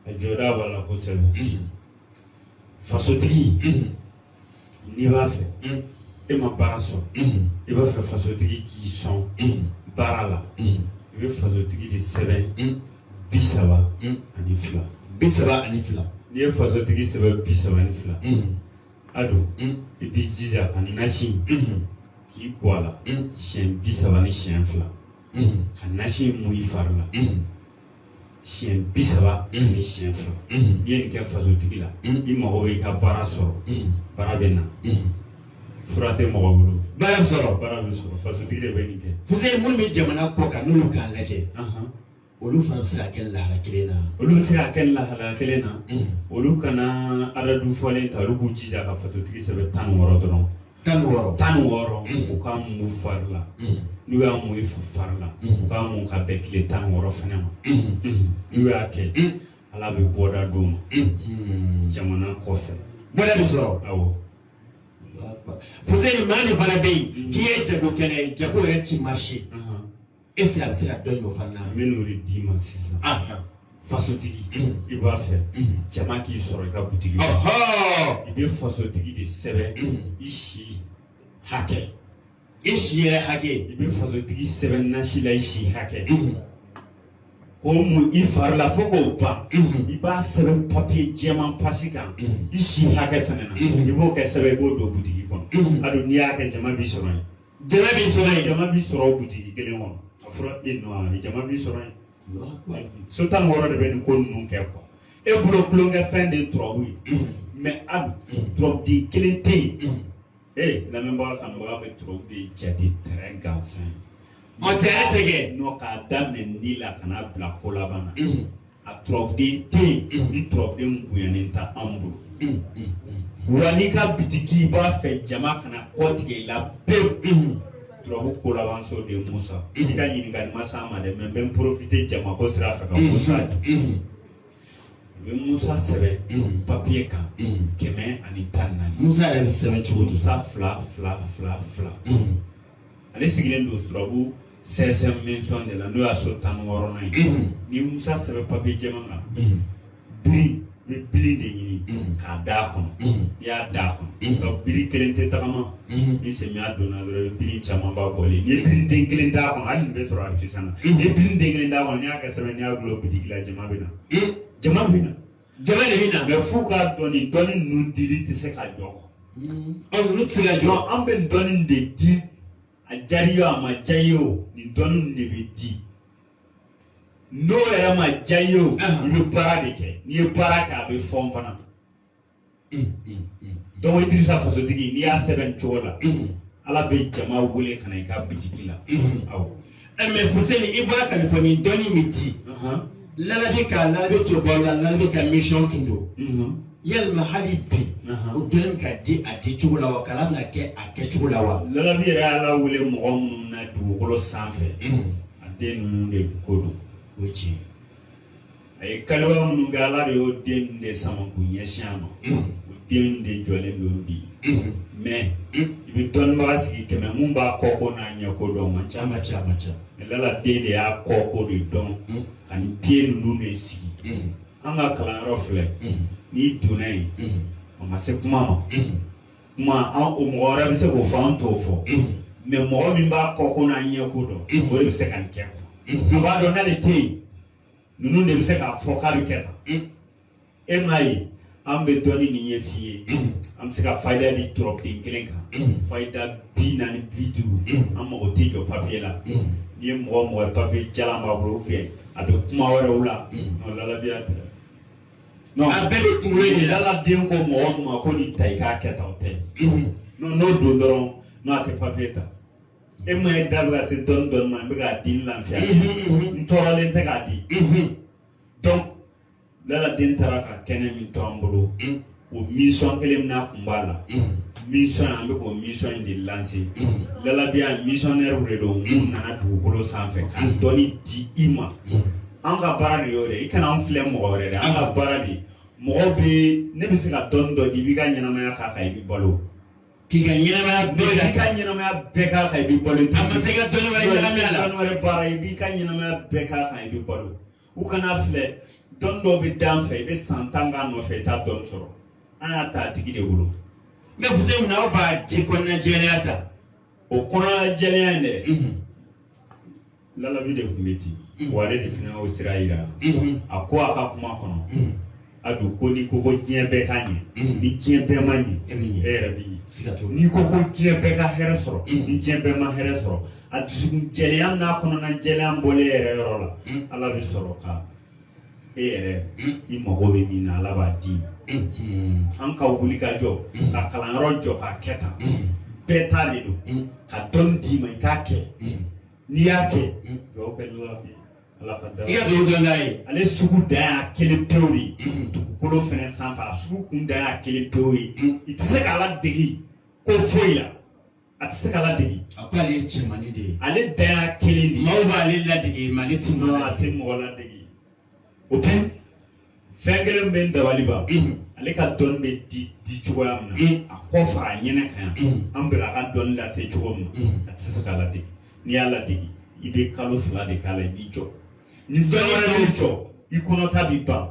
a jɔda b'a la kosɛbɛ fasotigi n'i b'a fɛ i ma baara sɔrɔ i b'a fɛ fasotigi k'i sɔn baara la i bɛ fasotigi de sɛbɛn bi saba ani fila bi saba ani fila n'i ye fasotigi sɛbɛn bi saba ani fila a don i b'i jija a nasi k'i ko a la siɲɛ bi saba ni siɲɛ fila ka nasi mun i fari la siyɛn bi saba ni siyɛn fila n'i ye nin kɛ fasotigi la i mago bɛ i ka baara sɔrɔ baara bɛ na fura tɛ mɔgɔ bolo baara bɛ sɔrɔ baara bɛ sɔrɔ fasotigi de bɛ nin kɛ fasotigi minnu bɛ jamana kɔ kan n'olu k'an lajɛ olu fana bɛ se ka kɛ lahala kelen na olu bɛ se ka kɛ lahala kelen na olu kana adadu fɔlen ta olu k'u jija ka fasotigi sɛbɛn tan ni wɔɔrɔ dɔrɔn tan ni wɔɔrɔ tan ni wɔɔrɔ u k'a mun fari la n'u y'a mun i fari la u k'a mun ka bɛn tile tan ni wɔɔrɔ fana ma n'u y'a kɛ ala bɛ bɔda d'u ma jamana kɔfɛ bɔda bɛ sɔrɔ awɔ fuseni maa min fana bɛ yen k'i ye jago kɛnɛ jago yɛrɛ ti marché E se a bɛ se ka dɔn jɔ fana na min de d'i ma sisan fasotigi i b'a fɛ jama k'i sɔrɔ i ka butigi i bɛ fasotigi de sɛbɛn i si hakɛ i si yɛrɛ hakɛ i bɛ fasotigi sɛbɛn nasi la i si hakɛ k'o mun i fari la fo k'o ban i b'a sɛbɛn papiye jɛman pasi kan i si hakɛ fana na i b'o kɛ sɛbɛn i b'o don butigi kɔnɔ a don n'i y'a kɛ jama b'i sɔrɔ yen jama b'i sɔrɔ yen jama b'i sɔrɔ butigi kelen kɔnɔ a fɔra e nɔ a jama b'i sɔrɔ yen so tan ni wɔɔrɔ de bɛ nin ko ninnu kɛ kuwa e bolo tulonkɛ fɛn de ye turabu ye mɛ abu turabuden kelen tɛ yen ee lamɛnbaga kanubaga bɛ turabu de jate tɛrɛn gansan ye mɔtɛya tɛ kɛ nɔ k'a daminɛ ni la ka n'a bila ko laban na a turabuden tɛ yen ni turabuden bonyanen t'anw bolo wa n'i ka bitiki i b'a fɛ jama kana kɔtigɛ i la pewu turabu ko laban so de musa i ka ɲininkali ma s'a ma dɛ mɛ n bɛ n porofite jama ko sira fɛ ka musa di i bɛ musa sɛbɛn papiye kan kɛmɛ ani tan ni naani musa yɛrɛ bɛ sɛbɛn cogo di musa fila fila fila fila ale sigilen don turabu seizième maison de la n'o ye so tan ni wɔɔrɔnan ye mhm. ni musa sɛbɛn papiye jɛman kan mhm. biri i bɛ biri de ɲini mhm. k'a da a kɔnɔ n'i y'a da a kɔnɔ ka biri kelen tɛ tagama ni samiya donna dɔrɔn i bɛ biri caman ba bɔlen n'i ye biri den kelen d'a kɔnɔ hali nin bɛ sɔrɔ a fisan na n'i ye biri den kelen d'a kɔnɔ n'i y'a kɛ sɛbɛn n'i y'a dulon bitigi la jama bɛ na jama bɛ na Jama de bɛ na mɛ f'u k'a dɔn nin dɔnni ninnu dili tɛ se ka jɔ ɔ ninnu tɛ se ka jɔ an bɛ nin dɔnni de di a diyara i ye o a ma diya ye o nin dɔnni ninnu de bɛ di n'o yɛrɛ ma diya ye o i bɛ baara de kɛ n'i ye baara kɛ a bɛ fɔn fana dɔgɔ idirisa fasotigi n'i y'a sɛbɛn cogo la ala bɛ jama wele ka na i ka bitiki la awɔ mɛ fuseni i bɔra ka nin fɔ nin dɔnni min di lalabi ka lalabi to baro la lalabi ka mission tun don yalima hali bi o dɔnni ka di a di cogo la wa kalan ka kɛ a kɛcogo la wa lalabi yɛrɛ y'a lawele mɔgɔ minnu na dugukolo sanfɛ a den ninnu de ko don o ye tiɲɛ ye a ye kaliwa minnu kɛ ala de y'o den ninnu de sama k'u ɲɛsin a ma o den ninnu de jɔlen bɛ o bi mɛ i bɛ dɔnnibaga sigi kɛmɛ min b'a kɔ ko n'a ɲɛ ko dɔn man ca man ca man ca mɛ lala den de y'a kɔ ko de dɔn ka nin piye ninnu de sigi an ka kalanyɔrɔ filɛ n'i donna yen a ma se kuma ma kuma an o mɔgɔ wɛrɛ bɛ se k'o fɔ an t'o fɔ mɛ mɔgɔ min b'a kɔ ko n'a ɲɛ ko dɔn o de bɛ se ka nin kɛ an b'a dɔn n'ale tɛ yen ninnu de bɛ se k'a fɔ k'a bɛ kɛ tan mm. e m'a ye an bɛ dɔnni nin ɲɛf'i ye mm. an bɛ se ka fayida di tɔrɔbiden kelen kan mm. fayida bi naani bi duuru an mago tɛ jɔ papiye la n'i ye mɔgɔ mɔgɔ ye papiye jalan b'a bolo ubiyɛn a bɛ kuma wɛrɛw la ɔ lalabiya tɛ a bɛɛ bɛ kunkolo in de la lala den ko mɔgɔ min ma ko nin ta i k'a kɛ tan o tɛ n'o don dɔrɔn n'a tɛ papiye ta e m'a ye da bɛ ka se dɔnni dɔ ma n bɛ k'a di n lafiya n tɔɔrɔlen tɛ k'a di donc lala den taara ka kɛnɛ min to an bolo o mission kelen min n'a kun b'a la mission an bɛ k'o mission in de lancer lalabiya missionnaire de don mun nana dugukolo sanfɛ ka dɔnni di i ma an ka baara de y'o de ye i kana an filɛ mɔgɔ wɛrɛ de an ka baara de ye mɔgɔ bɛ ne bɛ se ka dɔnni dɔ di i b'i ka ɲɛnamaya k'a kan i bɛ balo. k'i ka ɲɛnamaya bɛɛ k'a kan i bɛ balo a ma se ka dɔnni wɛrɛ ɲagami a la dɔnni wɛrɛ baara i b'i ka ɲɛnamaya bɛɛ k'a kan i bɛ balo u kan'a filɛ dɔnni dɔw bɛ d'an fɛ i bɛ san tan k'a nɔfɛ i t'a dɔnni sɔrɔ an y'a ta a tigi de bolo mɛ fuse mun na aw b'a di kɔnɔna jɛlenya ta o kɔnɔna jɛlenya in dɛ lalabi de tun bɛ ten wa ale de fana y'o sira yira a ko a ka kuma kɔnɔ a don ko n'i ko ko diɲɛ bɛɛ ka ɲɛ ni diɲɛ bɛɛ ma ɲɛ e yɛrɛ bɛ ɲɛ n'i ko ko diɲɛ bɛɛ ka hɛrɛ sɔrɔ ni diɲɛ bɛɛ ma hɛrɛ sɔrɔ a dusukun jɛlenya n'a kɔnɔna jɛlenya bɔlen yɛrɛ yɔrɔ la ala bɛ sɔrɔ ka e yɛrɛ i mago bɛ min na ala b'a d'i ma an ka wuli ka jɔ ka kalanyɔrɔ jɔ k'a kɛ tan bɛɛ ta de don ka dɔnni d'i ma i k'a kɛ n'i y'a kɛ dugawu kɛ dɔrɔn bi ala ka da i ka dugawu kɛ n'a ye ale sugu dan y'a kelen pewu de ye dugukolo fɛnɛ sanfɛ a sugu kun dan y'a kelen pewu ye i tɛ se k'a ladege ko foyi la a tɛ se ka ladege a ko ale ye cɛmanni de ye ale dan y'a kelen de ye maaw b'ale ladege mais ale tɛ mɔgɔ ladege o tɛ fɛn kelen bɛ dabali ban ale ka dɔnni bɛ di di cogoya min na a kɔ fara a ɲɛnɛ kan yan an bɛ a ka dɔnni lase cogo min na a tɛ se k'a ladege n'i y'a ladege i bɛ kalo fila de k'a la i b'i jɔ ni fɛn wɛrɛ b'i jɔ i kɔnɔ ta b'i ban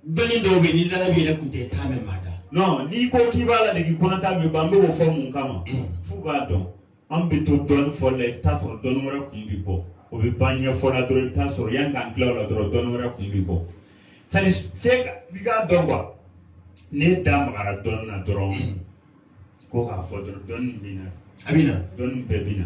dɔnni dɔw bɛ yen ni lalabi yɛrɛ kun tɛ taa mɛn maa da n'i ko k'i b'a ladege kɔnɔ ta b'i ban n bɛ o fɔ mun kama f'u k'a dɔn an bɛ to dɔnni fɔ la i bɛ taa sɔrɔ dɔnni wɛrɛ kun bɛ bɔ o bɛ ban ɲɛfɔ la dɔrɔn i bɛ taa sɔrɔ yanni k'an tila o la dɔrɔn dɔnni wɛrɛ kun bɛ bɔ sani fɛn ka i k'a dɔn quoi ne da magara dɔnni na dɔrɔn ko k'a fɔ dɔrɔn dɔnni bɛ na a bɛ na dɔnni bɛɛ bɛ na.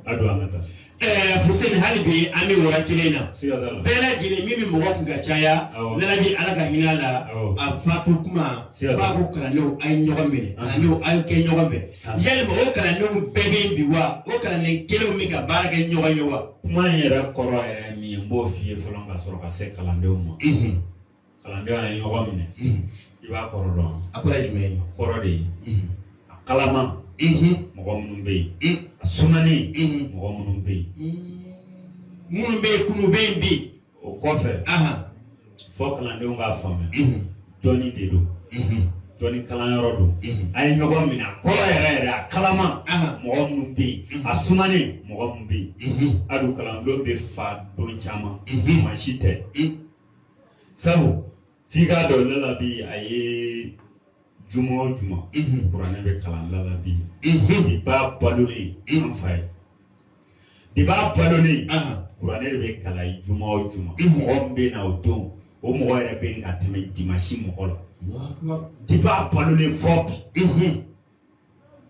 a don an ka taa ɛɛ fuseni hali bi an bɛ wara kelen in na siga t'a la bɛɛ lajɛlen min bɛ mɔgɔ kun ka caya Awɔ. larabi ala ka hinɛ a la Awɔ. a faatu kuma Siga t'a la. b'a ko kalandenw a ye ɲɔgɔn minɛ Awɔ. kalandenw a ye kɛ ɲɔgɔn fɛ Awɔ. yalima o kalandenw bɛɛ bɛ yen bi wa o kalanden kelenw bɛ ka baara kɛ ɲɔgɔn ye wa kuma in yɛrɛ kɔrɔ yɛrɛ ye min ye n b'o f'i ye fɔlɔ ka sɔrɔ ka se kalandenw ma Mhm. kalandenw ye ɲɔgɔn minɛ i b'a kɔrɔ dɔn a kɔrɔ ye jumɛn ye kɔrɔ de ye a kalama mɔgɔ minnu bɛ yen a suman mɔgɔ minnu bɛ yen minnu bɛ yen kunu bɛ yen bi o kɔfɛ fɔ kalandenw k'a faamuya dɔnni de don dɔnni kalanyɔrɔ don a ye ɲɔgɔn minɛ a kɔrɔ yɛrɛ yɛrɛ a kalama mɔgɔ minnu bɛ yen a suman mɔgɔ minnu bɛ yen hali kalanbulon bɛ fa don caman maa si tɛ sabu f'i k'a dɔn larabi a ye juma o juma kuranɛ bɛ kalan larabi depi a balolen an fa ye depi a balolen kuranɛ de bɛ kalan juma o juma mɔgɔ min bɛ na o don o mɔgɔ yɛrɛ bɛ ka tɛmɛ dimansi mɔgɔ la depi a balolen fɔ bi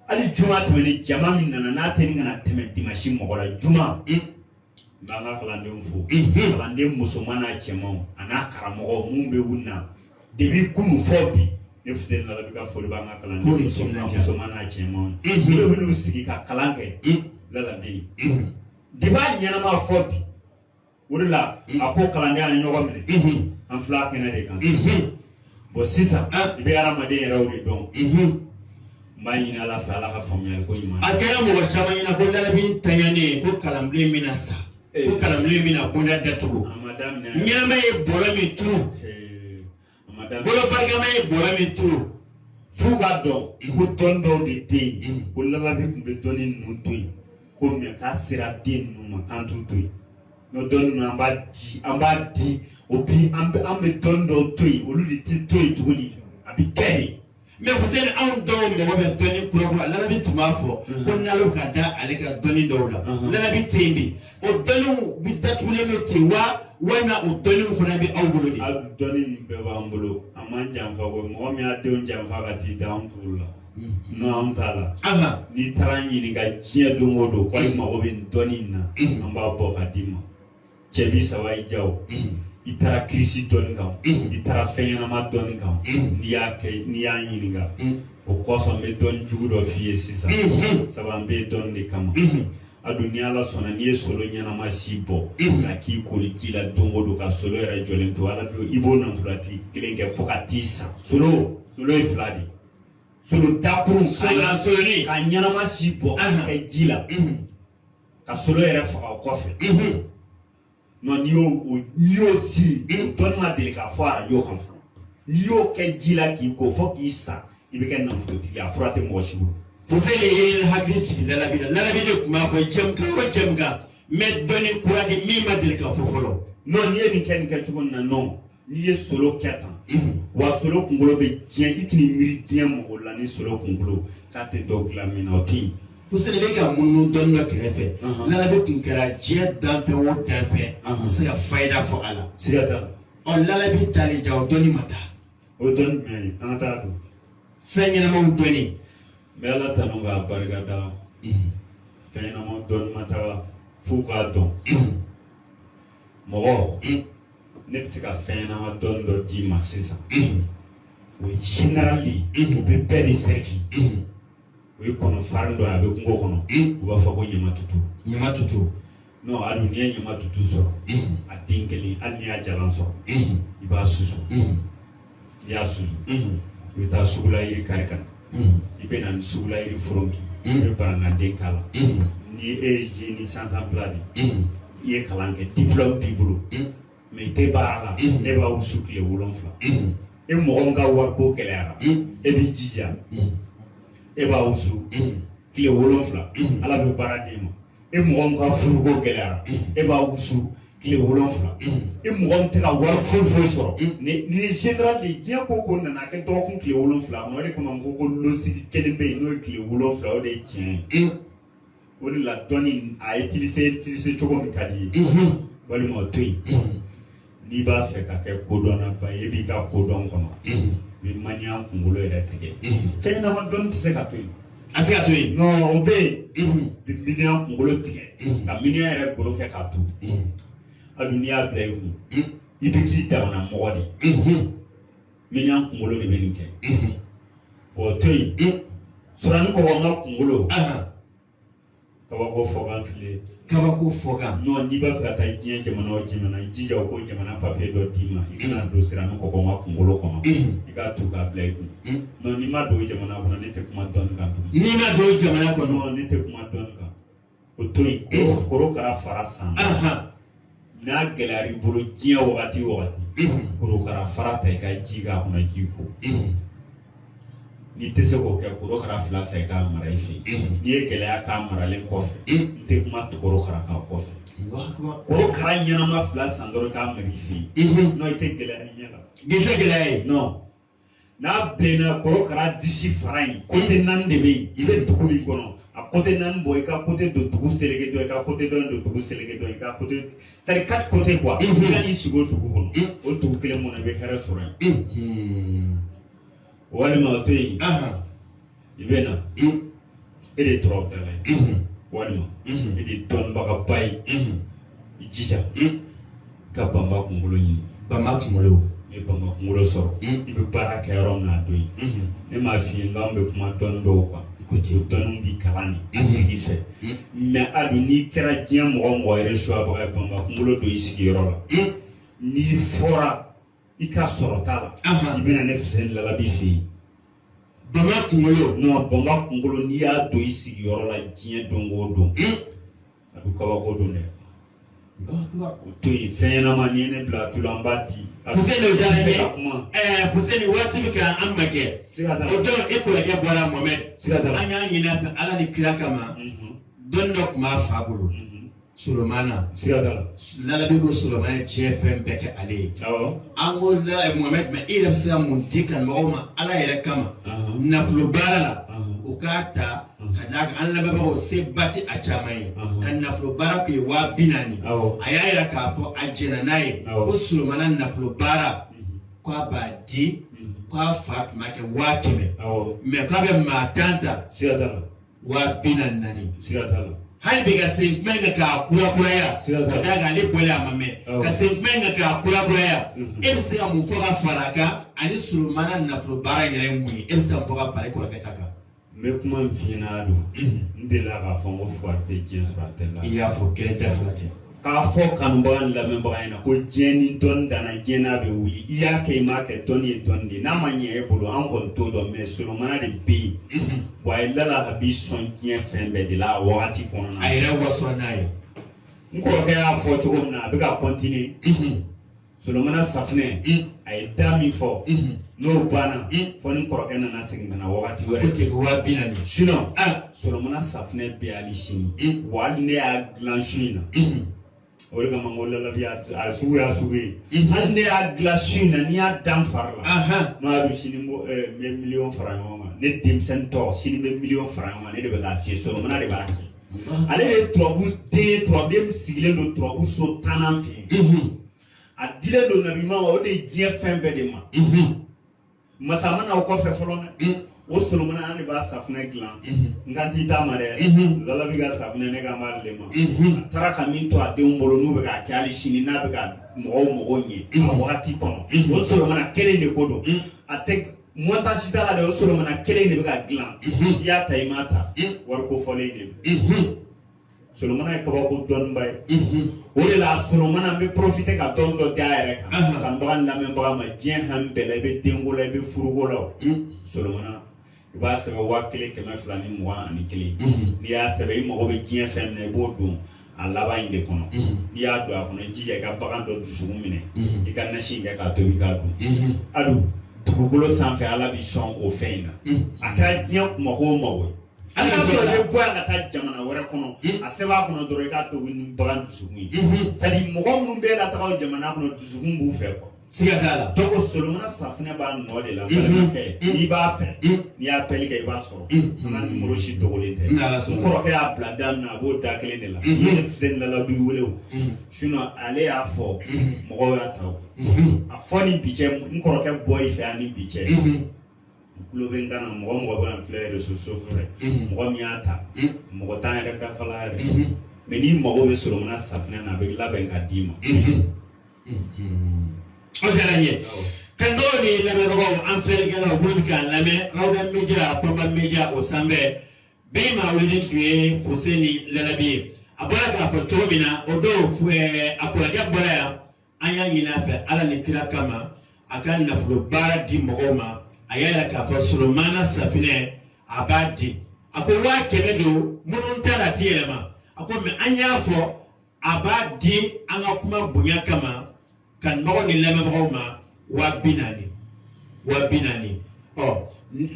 hali juma tɛmɛnen jama min nana n'a tɛ nin kana tɛmɛ dimansi mɔgɔ la juma n b'an ka kalandenw fo kalanden musoman n'a cɛmanw a n'a karamɔgɔw minnu bɛ u na depi kunu fɔ bi ne fuseni larabi ka foli b'an ka kalanden musoman n'a cɛmanw ye u bɛ wuli u sigi ka kalan kɛ larabi depi a ɲɛnama fɔ bi o de la a ko kalanden a ye ɲɔgɔn minɛ an filɛ a kɛnɛ de kan bɔn sisan i bɛ hadamaden yɛrɛ o de dɔn n b'a ɲini ala fɛ ala ka faamuyali ko ɲuman a kɛra mɔgɔ caman ɲɛna ko larabi taanen ko kalanbulon bɛna sa ko kalanbulon bɛna bonda datugu ɲɛnama ye bɔlɔ min turu bolo barikama ye bɔlɔ min turu f'u k'a dɔn ko den dɔw de bɛ yen mm. ko larabi tun bɛ dɔnni ninnu to yen komi k'a sera den ninnu ma k'an t'u to yen n'o dɔnni ninnu an b'a di an b'a di o bi an bɛ an bɛ dɔnni dɔw to yen olu de tɛ to yen tuguni a bɛ kɛ de mɛ fuseni anw dɔw mɔgɔ bɛ dɔnni kurakura larabi tun b'a fɔ ko nalo ka da ale ka dɔnni dɔw la larabi tɛ yen bi o dɔnniw bi datugulen bɛ ten wa walima o dɔnniw fana bɛ aw bolo de a dɔnni ninnu bɛɛ b'an bolo a man janfa ko mɔgɔ min y'a denw janfa ka t'i da an tuuru la n'o an t'a la n'i taara ɲininka diɲɛ don o don k'ale mago bɛ nin dɔnni in na an b'a bɔ ka d'i ma cɛ bi saba i ja o i taara kirisi dɔnni kan i taara fɛn ɲɛnama dɔnni kan n'i y'a kɛ n'i y'a ɲininka o kosɔn n bɛ dɔnni jugu dɔ f'i ye sisan sabu an bɛ dɔnni de kama a dun ni ala sɔnna n'i ye solo ɲɛnama si bɔ ka k'i koliji la don o don ka solo yɛrɛ jɔlen to ala don i b'o nafolati kelen kɛ fo ka t'i san solo solo ye fila de ye solo dakuru ka ɲɛnama si bɔ ka kɛ ji la ka solo yɛrɛ faga o kɔfɛ nɔn n'i y'o n'i y'o si o dɔnni ma deli ka fɔ arajo kan fɔlɔ n'i y'o kɛ ji la k'i ko fo k'i sa i bɛ kɛ nafolotigi a fura tɛ mɔgɔ si bolo muso de ye hakili jigin lalabi la lalabi de tun b'a fɔ jɛmukan o jɛmukan mɛ dɔnni kura di min ma deli ka fɔ fɔlɔ nɔn n'i ye nin kɛ nin kɛ cogo nin na nɔn n'i ye solo kɛ tan wa solo kunkolo bɛ diɲɛ i tun miiri diɲɛ mɔgɔ la ni solo kunkolo k'a tɛ dɔw dilan min na o tɛ yen kosɛbɛ bɛ ka mununu dɔnni dɔ kɛrɛfɛ lalabi tun kɛra diɲɛ danfɛn o danfɛn a tun se ka fayida fɔ a la siga t'a la ɔ lalabi tali ja o dɔnni ma taa o dɔnni jumɛn ye an ka taa don fɛn ɲɛnamaw dɔnni n bɛ ala tanu k'a barika da fɛn ɲɛnamaw dɔnni ma taa f'u k'a dɔn mɔgɔ ne bɛ se ka fɛn ɲɛnama dɔnni dɔ d'i ma sisan o ye général de ye o bɛ bɛɛ de sɛki o ye kɔnɔ farin dɔ ye a bɛ kungo kɔnɔ u b'a fɔ ko ɲamatutu ɲamatutu non hali n'i ye ɲamatutu sɔrɔ a den kelen hali n'i y'a jalan sɔrɔ i b'a susu n'i y'a susu i bɛ taa sugula yiri kari ka na i bɛ na ni sugula yiri foronki i bɛ baranaden k'a la ni e ye jeune sans emploi de i ye kalan kɛ diplôme b'i bolo mais i tɛ baara la ne b'a wusu tile wolonfila e mɔgɔ min ka wariko gɛlɛyara e b'i jija e b'a wusu tile wolonfila ala bɛ baara d'i ma e mɔgɔ min ka furuko gɛlɛyara e b'a wusu tile wolonfila e mɔgɔ min tɛ ka wari foyi foyi sɔrɔ nin ye général de ye diɲɛ ko o ko nana kɛ dɔgɔkun tile wolonfila ma o de kama n ko ko logique kelen bɛ yen n'o ye tile wolonfila o de ye tiɲɛ ye o de la dɔnni a ye utiliser utiliser cogo min ka d'i ye walima o to yen n'i b'a fɛ ka kɛ kodɔnnaba ye e b'i ka kodɔn kɔnɔ i bɛ miniyan kunkolo yɛrɛ tigɛ fɛn ɲɛnama dɔnni tɛ se ka to yen a se ka to yen non o bɛ yen i bɛ miniyan kunkolo tigɛ ka miniyan yɛrɛ golo kɛ k'a to hali n'i y'a bila i kun i bɛ k'i damana mɔgɔ de miniyan kunkolo de bɛ nin kɛ o to yen siraninkɔgɔma kunkolo kabako fɔkan filɛ kabako fɔkan nɔn n'i b'a fɛ ka taa diɲɛ jamana o jamana i jija u k'o jamana papiye dɔ d'i ma i ka n'a don siraninkɔgɔma kunkolo kɔnɔ i k'a to k'a bila i kun nɔn n'i ma don jamana kɔnɔ ne tɛ kuma dɔnni kan tugun n'i ma don jamana kɔnɔ ne tɛ kuma dɔnni kan o to yen korokara fara san n'a gɛlɛyara i bolo diɲɛ wagati o wagati korokara fara ta i ka ji k'a kɔnɔ i k'i ko n'i tɛ se k'o kɛ korokara fila san i k'a mara i fɛ yen n'i ye gɛlɛya k'a maralen kɔfɛ n tɛ kuma korokara kan kɔfɛ korokara ɲɛnama fila san dɔrɔn k'a mara i fɛ yen n'o i tɛ gɛlɛya i ɲɛ la gɛlɛya gɛlɛya ye nɔ n'a bɛnna korokara disi fara in côté naani de bɛ yen i bɛ dugu min kɔnɔ a côté naani bɔ i ka côté don dugu seleke dɔ i ka côté dɔ in don dugu seleke dɔ i ka côté c'est-à-dire quatre côtés quoi i ka n'i sigi o dugu kɔnɔ o dugu kelen kɔnɔ i bɛ hɛrɛ sɔrɔ yen walima o to yen i bɛ na e de tɔrɔ bɛɛ la walima e de dɔnnibagaba ye i jija ka banba kunkolo ɲini banba kunkolo ni banba kunkolo sɔrɔ i bɛ baara kɛ yɔrɔ min na a don yen ne m'a f'i ye n'an bɛ kuma dɔnni dɔw kan ko ten dɔnni b'i kalan de hakili fɛ mɛ hali n'i kɛra diɲɛ mɔgɔ mɔgɔ yɛrɛ suyabaga ye banba kunkolo don i sigiyɔrɔ la n'i fɔra i ka sɔrɔta la i bɛ na ne Fuseni lalabi fɛ yen bama kunkolo non bama kunkolo n'i y'a don i sigiyɔrɔ la diɲɛ don o don a bɛ kabako don dɛ o to yen fɛn ɲɛnama n'i ye ne bila a tu la an b'a di Fuseni Jaffe ɛɛ Fuseni waati bɛ ka an magɛn o don e kɔrɔkɛ bɔra Mohamɛdi an y'a ɲini a fɛ Ala ni kira kama dɔnni dɔ tun b'a fa bolo. Solomana siga t'a la lalabi ko Solomana ye diɲɛ fɛn bɛɛ kɛ ale ye awɔ an ko lala Mohamed mais e yɛrɛ bɛ se ka mun di kanubagaw ma Ala yɛrɛ kama nafolo baara la u k'a ta ka d'a kan an lamɛnbagaw se ba tɛ a caman ye ka nafolo baara kɛ waa bi naani a y'a yira k'a fɔ a jɛnna n'a ye ko Solomana nafolo baara k'a b'a di k'a fa tun b'a kɛ waa kɛmɛ mais k'a bɛ maa tan ta siga t'a la waa bi naani naani siga t'a la hali bi ka segin kuma in kan k'a kurakuraya Siga t'a la. ka d'a kan ale bɔlen a ma mɛn Awɔ. ka segin kuma in kan k'a kurakuraya Mhm. e bɛ se ka mun fɔ ka fara a kan ani solomana nafolo baara yɛrɛ ye mun ye e bɛ se ka mun fɔ ka fara i kɔrɔkɛ ta kan n bɛ kuma min f'i ɲɛna a don n delila k'a fɔ n ko fugari tɛ diɲɛ sɔrɔ a tɛ la i y'a fɔ kelen tɛ fila tɛ k'a fɔ kanubaga ni lamɛnbaga ɲɛna ko diɲɛ ni dɔnni danna diɲɛ n'a bɛ wuli i y'a kɛ i m'a kɛ dɔnni ye dɔnni de ye n'a ma ɲɛ e bolo an kɔni t'o dɔn mɛ solomana de bɛ yen wa a ye lala a b'i sɔn diɲɛ fɛn bɛɛ de la a wagati kɔnɔna a yɛrɛ wasɔn n'a ye n kɔrɔkɛ y'a fɔ cogo min na a bɛ ka kɔntine solomana safinɛ mm. a ye da min fɔ mm-hmm. n'o banna mm. fɔ ni kɔrɔkɛ nana segin ka na wagati wɛrɛ ko tɛ waa bi naani sinon ah. solomana safinɛ bɛ hali sini mm. wa hali ne y'a dilan su in na mm-hmm. o de kama n ko lalabi a sugu y'a sugu ye mm-hmm. hali ne y'a dilan su in na ne y'a da n fari la n y'a dɔn sini n bɛ eh, miliyɔn fara ɲɔgɔn kan ne denmisɛnnintɔ sini bɛ miliyɔn fara ɲɔgɔn kan ne de bɛ k'a f'i ye solomana de b'a kɛ. ale de ye turabu den ye turabu den min sigilen don turabu so tannan fɛ a dilen don nabi ɲuman ma o de ye diɲɛ fɛn bɛɛ de ma masa ma na o kɔfɛ fɔlɔ dɛ o solomana an de b'a safunɛ dilan n kan t'i ta ma dɛ lalabi ka safunɛ ne kan b'ale de ma a taara ka min to a denw bolo n'u bɛ k'a kɛ hali sini n'a bɛ ka mɔgɔw mago ɲɛ a wagati kɔnɔ o solomana kelen de ko don a tɛ montage t'a la dɛ o solomana kelen de bɛ ka dilan i y'a ta i m'a ta wariko fɔlen de don solomana ye kabako dɔnniba ye o de la solomana n bɛ profite ka dɔn dɔ di a yɛrɛ kan kanubaga lamɛnbaga ma diɲɛ hami bɛɛ la i bɛ denko la i bɛ furuko la o solomana i b'a sɛbɛn waa kelen kɛmɛ fila ni mugan ani kelen n'i y'a sɛbɛn i mago bɛ diɲɛ fɛn min na i b'o don a laban in de kɔnɔ n'i y'a don a kɔnɔ i jija i ka bagan dɔ dusukun minɛ i ka nasi in kɛ k'a tobi k'a dun adu dugukolo sanfɛ ala b'i sɔn o fɛn in na a kɛra diɲɛ kuma ko o mago hali n'a sɔrɔ i bɛ bɔ yan ka taa jamana wɛrɛ kɔnɔ a sɛbɛn a kɔnɔ dɔrɔn i k'a tobi ni bagan dusukun ye sadi mɔgɔ minnu bɛ ka taga o jamana kɔnɔ dusukun b'u fɛ kuwa siga t'a la dɔw ko solomana safinɛ b'a nɔ de la balimakɛ n'i b'a fɛ n'i y'apɛli kɛ i b'a sɔrɔ an ka nimoro si dogolen tɛ n kɔrɔkɛ y'a bila da min na a b'o da kelen de la i ye fuseni lalabi wele o sinɔn ale y'a fɔ mɔgɔw y'a ta o a fɔ ni bi cɛ n kɔrɔkɛ bɔ i fɛ ani bi cɛ tulo bɛ n kan na mɔgɔ o mɔgɔ bɛ n filɛ reseau so fɛ mɔgɔ min y'a ta mɔgɔ t'an yɛrɛ dafɛla yɛrɛ mɛ n'i mago bɛ solomana safinɛ na a bɛ labɛn ka d'i ma o diyara n ye kanubagaw ni lamɛnbagaw an filɛlikɛlaw olu bɛ k'an lamɛn rawuda media fɔnba media o sanfɛ bi maa welelen tun ye fuseni lalabi ye a bɔra k'a fɔ cogo min na o don a kɔrɔkɛ bɔra yan an y'a ɲini a fɛ ala ni kira kama a ka nafolo baara di mɔgɔw ma a y'a yira k'a fɔ solomana safinɛ a b'a di a ko waa kɛmɛ don minnu t'a la a tɛ yɛlɛma a komi an y'a fɔ a b'a di an ka kuma bonya kama kanubaga ni lamɛnbagaw ma waa bi naani waa bi naani ɔ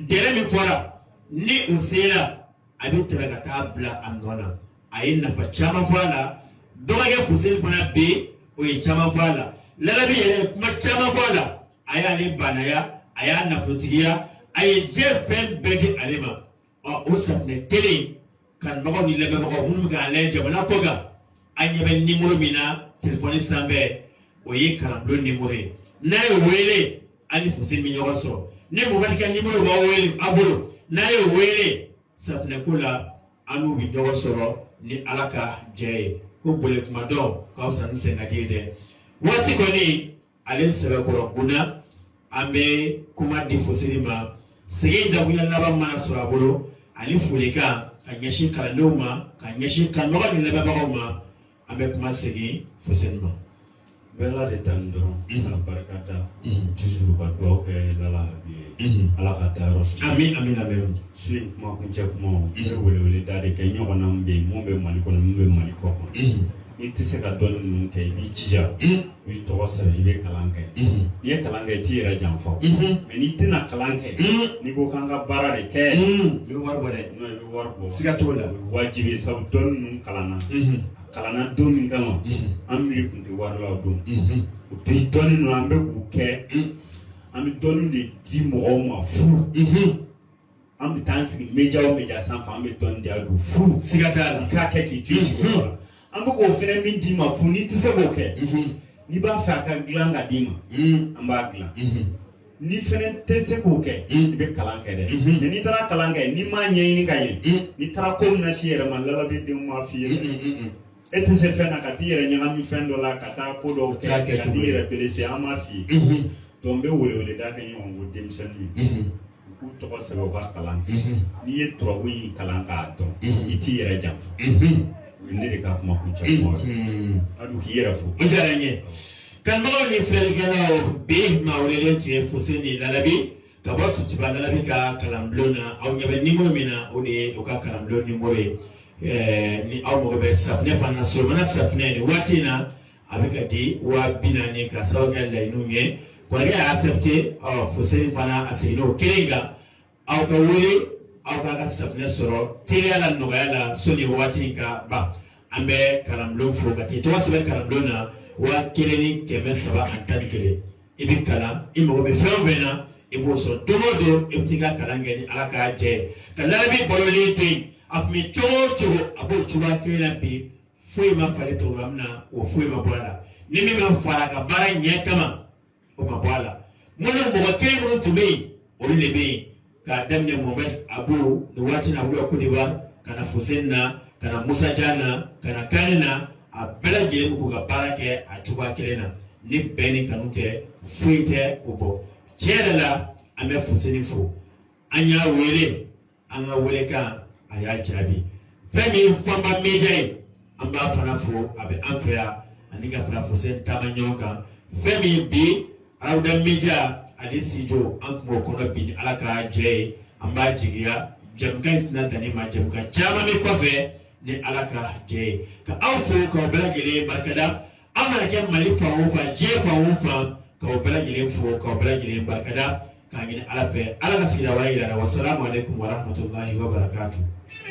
dɛrɛ min fɔra ni u sera a bɛ tɛmɛ ka taa bila a nɔ na a ye nafa caman fɔ a la dɔgɔkɛ fuseni fana bɛ yen o ye caman fɔ a la lalabi yɛrɛ ye kuma caman fɔ a la a y'ale baanaya a y'a nafolotigiya a ye diɲɛ fɛn bɛɛ di ale ma ɔ o safunɛ kelen kanubaga ni lamɛnbagaw minnu bɛ k'a lajɛ jamana kɔkan aw ɲɛ bɛ nimoro min na telefɔni sanfɛ o ye kalanbulon nimoro ye n'a ye wele an ni fuseni bɛ ɲɔgɔn sɔrɔ ni mɔgɔ ka nimoro b'aw bolo n'a ye wele safunɛko la an n'u bɛ ɲɔgɔn sɔrɔ ni ala ka jɛ ye ko boli kuma dɔn ka wusa ni sen ka di ye dɛ waati kɔni ale sɛbɛkɔrɔ kunda an bɛ kuma di fuseni ma sɛgɛn dakuruɲa laban mana sɔrɔ a bolo ani folikan ka ɲɛsin kalandenw ma ka ɲɛsin kanubaga ni lamɛnbagaw ma an bɛ kuma segin fuseni ma b'ala de tanu dɔrɔn ka barika da toujours ka dugawu kɛ lalabi ye ala k'a dayɔrɔ suma amin amin amin su in kuma kuncɛ kuma o n bɛ weleweleda de kɛ ɲɔgɔnna min bɛ yen min bɛ mali kɔnɔ min bɛ mali kɔkan i tɛ se ka dɔnni ninnu kɛ i b'i jija u b'i tɔgɔ sɛbɛn i bɛ kalan kɛ n'i ye kalan kɛ i t'i yɛrɛ janfa mɛ n'i tɛna kalan kɛ n'i ko k'an ka baara de kɛ i bɛ wari bɔ dɛ i bɛ wari bɔ siga t'o la wajibi sabu dɔnni ninnu kalanna a kalanna don min kama an miiri tun tɛ wari la o don o bi dɔnni ninnu an bɛ k'u kɛ an bɛ dɔnni de di mɔgɔw ma fu an bɛ taa sigi media o media sanfɛ an bɛ dɔnni di a don fu siga t'a la i k'a kɛ k'i to sigi la mhm. an bɛ k'o fana min d'i ma fu n'i tɛ se k'o kɛ mhm. n'i b'a fɛ a ka dilan ka d'i ma mhm. an b'a dilan n'i fɛnɛ tɛ se k'o kɛ i bɛ kalan kɛ dɛ mɛ n'i taara kalan kɛ n'i m'a ɲɛɲini ka ɲɛ n'i taara ko min na si yɛrɛ ma lalabi denw m'a f'i ye e tɛ se fɛn na ka t'i yɛrɛ ɲagami fɛn dɔ la ka taa ko dɔw kɛ ka t'i yɛrɛ blesser an m'a f'i ye donc n bɛ weleweleda kɛ ɲɔgɔn ko denmisɛnnin ye u k'u tɔgɔ sɛbɛn u ka kalan n'i ye turabu in kalan k'a dɔn i t'i yɛrɛ janfa o ye ne de ka kuma kuncɛ kuma ye adu k'i yɛrɛ fo o diyara n ye kanubagaw ni filɛlikɛlaw bi maa welelen tun ye fuseni lalabi ka bɔ sutiba lalabi ka kalanbulon na aw ɲɛ bɛ nimoro min na o de ye u ka kalanbulon nimoro ye ni aw mago bɛ safinɛ fana solomana safinɛ nin waati in na a bɛ ka di waa bi naani ka sababu kɛ laɲiniw ye kɔrɔkɛ y'a accepté ɔ Fuseni fana a seginna o kelen kan aw ka wele aw k'a ka safunɛ sɔrɔ teliya la nɔgɔya la sanni wagati in ka ban an bɛ kalanbulon fo ka t'i tɔgɔ sɛbɛn kalanbulon na waa kelen ni kɛmɛ saba ani tan ni kelen i bɛ kalan i mago bɛ fɛn o fɛn na i b'o sɔrɔ don o don i bɛ t'i ka kalan kɛ ni ala ka jɛ ye ka lalabi balolen to yen a tun bɛ cogo o cogo a b'o cogoya kelen na bi foyi ma falen porogramu na o foyi ma bɔ a la ni min ma fara ka baara ɲɛ kama o ma bɔ a la minnu mɔgɔ kelen minnu tun bɛ yen olu de bɛ yen k'a daminɛ mohamɛd abu nin waati na abu yakudiba ka na fuseni na ka na musaja na ka na kani na a bɛɛ lajɛlen bɛ k'u ka baara kɛ a cogoya kelen na ni bɛn ni kanu tɛ foyi tɛ o bɔ tiɲɛ yɛrɛ la an bɛ fuseni fo an y'a wele an ka welekan a y'a jaabi fɛn min ye fanba media ye an b'a fana fo a bɛ an fɛ yan ani ka fara fuseni taama ɲɔgɔn kan fɛn min ye bi arawuda media ani studio an tun b'o kɔnɔ bi ni ala ka jɛ ye an b'a jigiya jamukan in tɛna dan nin ma jamukan caman bɛ kɔfɛ ni ala ka jɛ ye ka aw fo k'aw bɛɛ lajɛlen barika da aw mana kɛ mali fan o fan diɲɛ fan o fan ka aw bɛɛ lajɛlen fo ka aw bɛɛ lajɛlen barikada k'a ɲini ala fɛ ala ka sigida wɛrɛ yira an na wasalamu aleykum warahmatulahi wabarakatu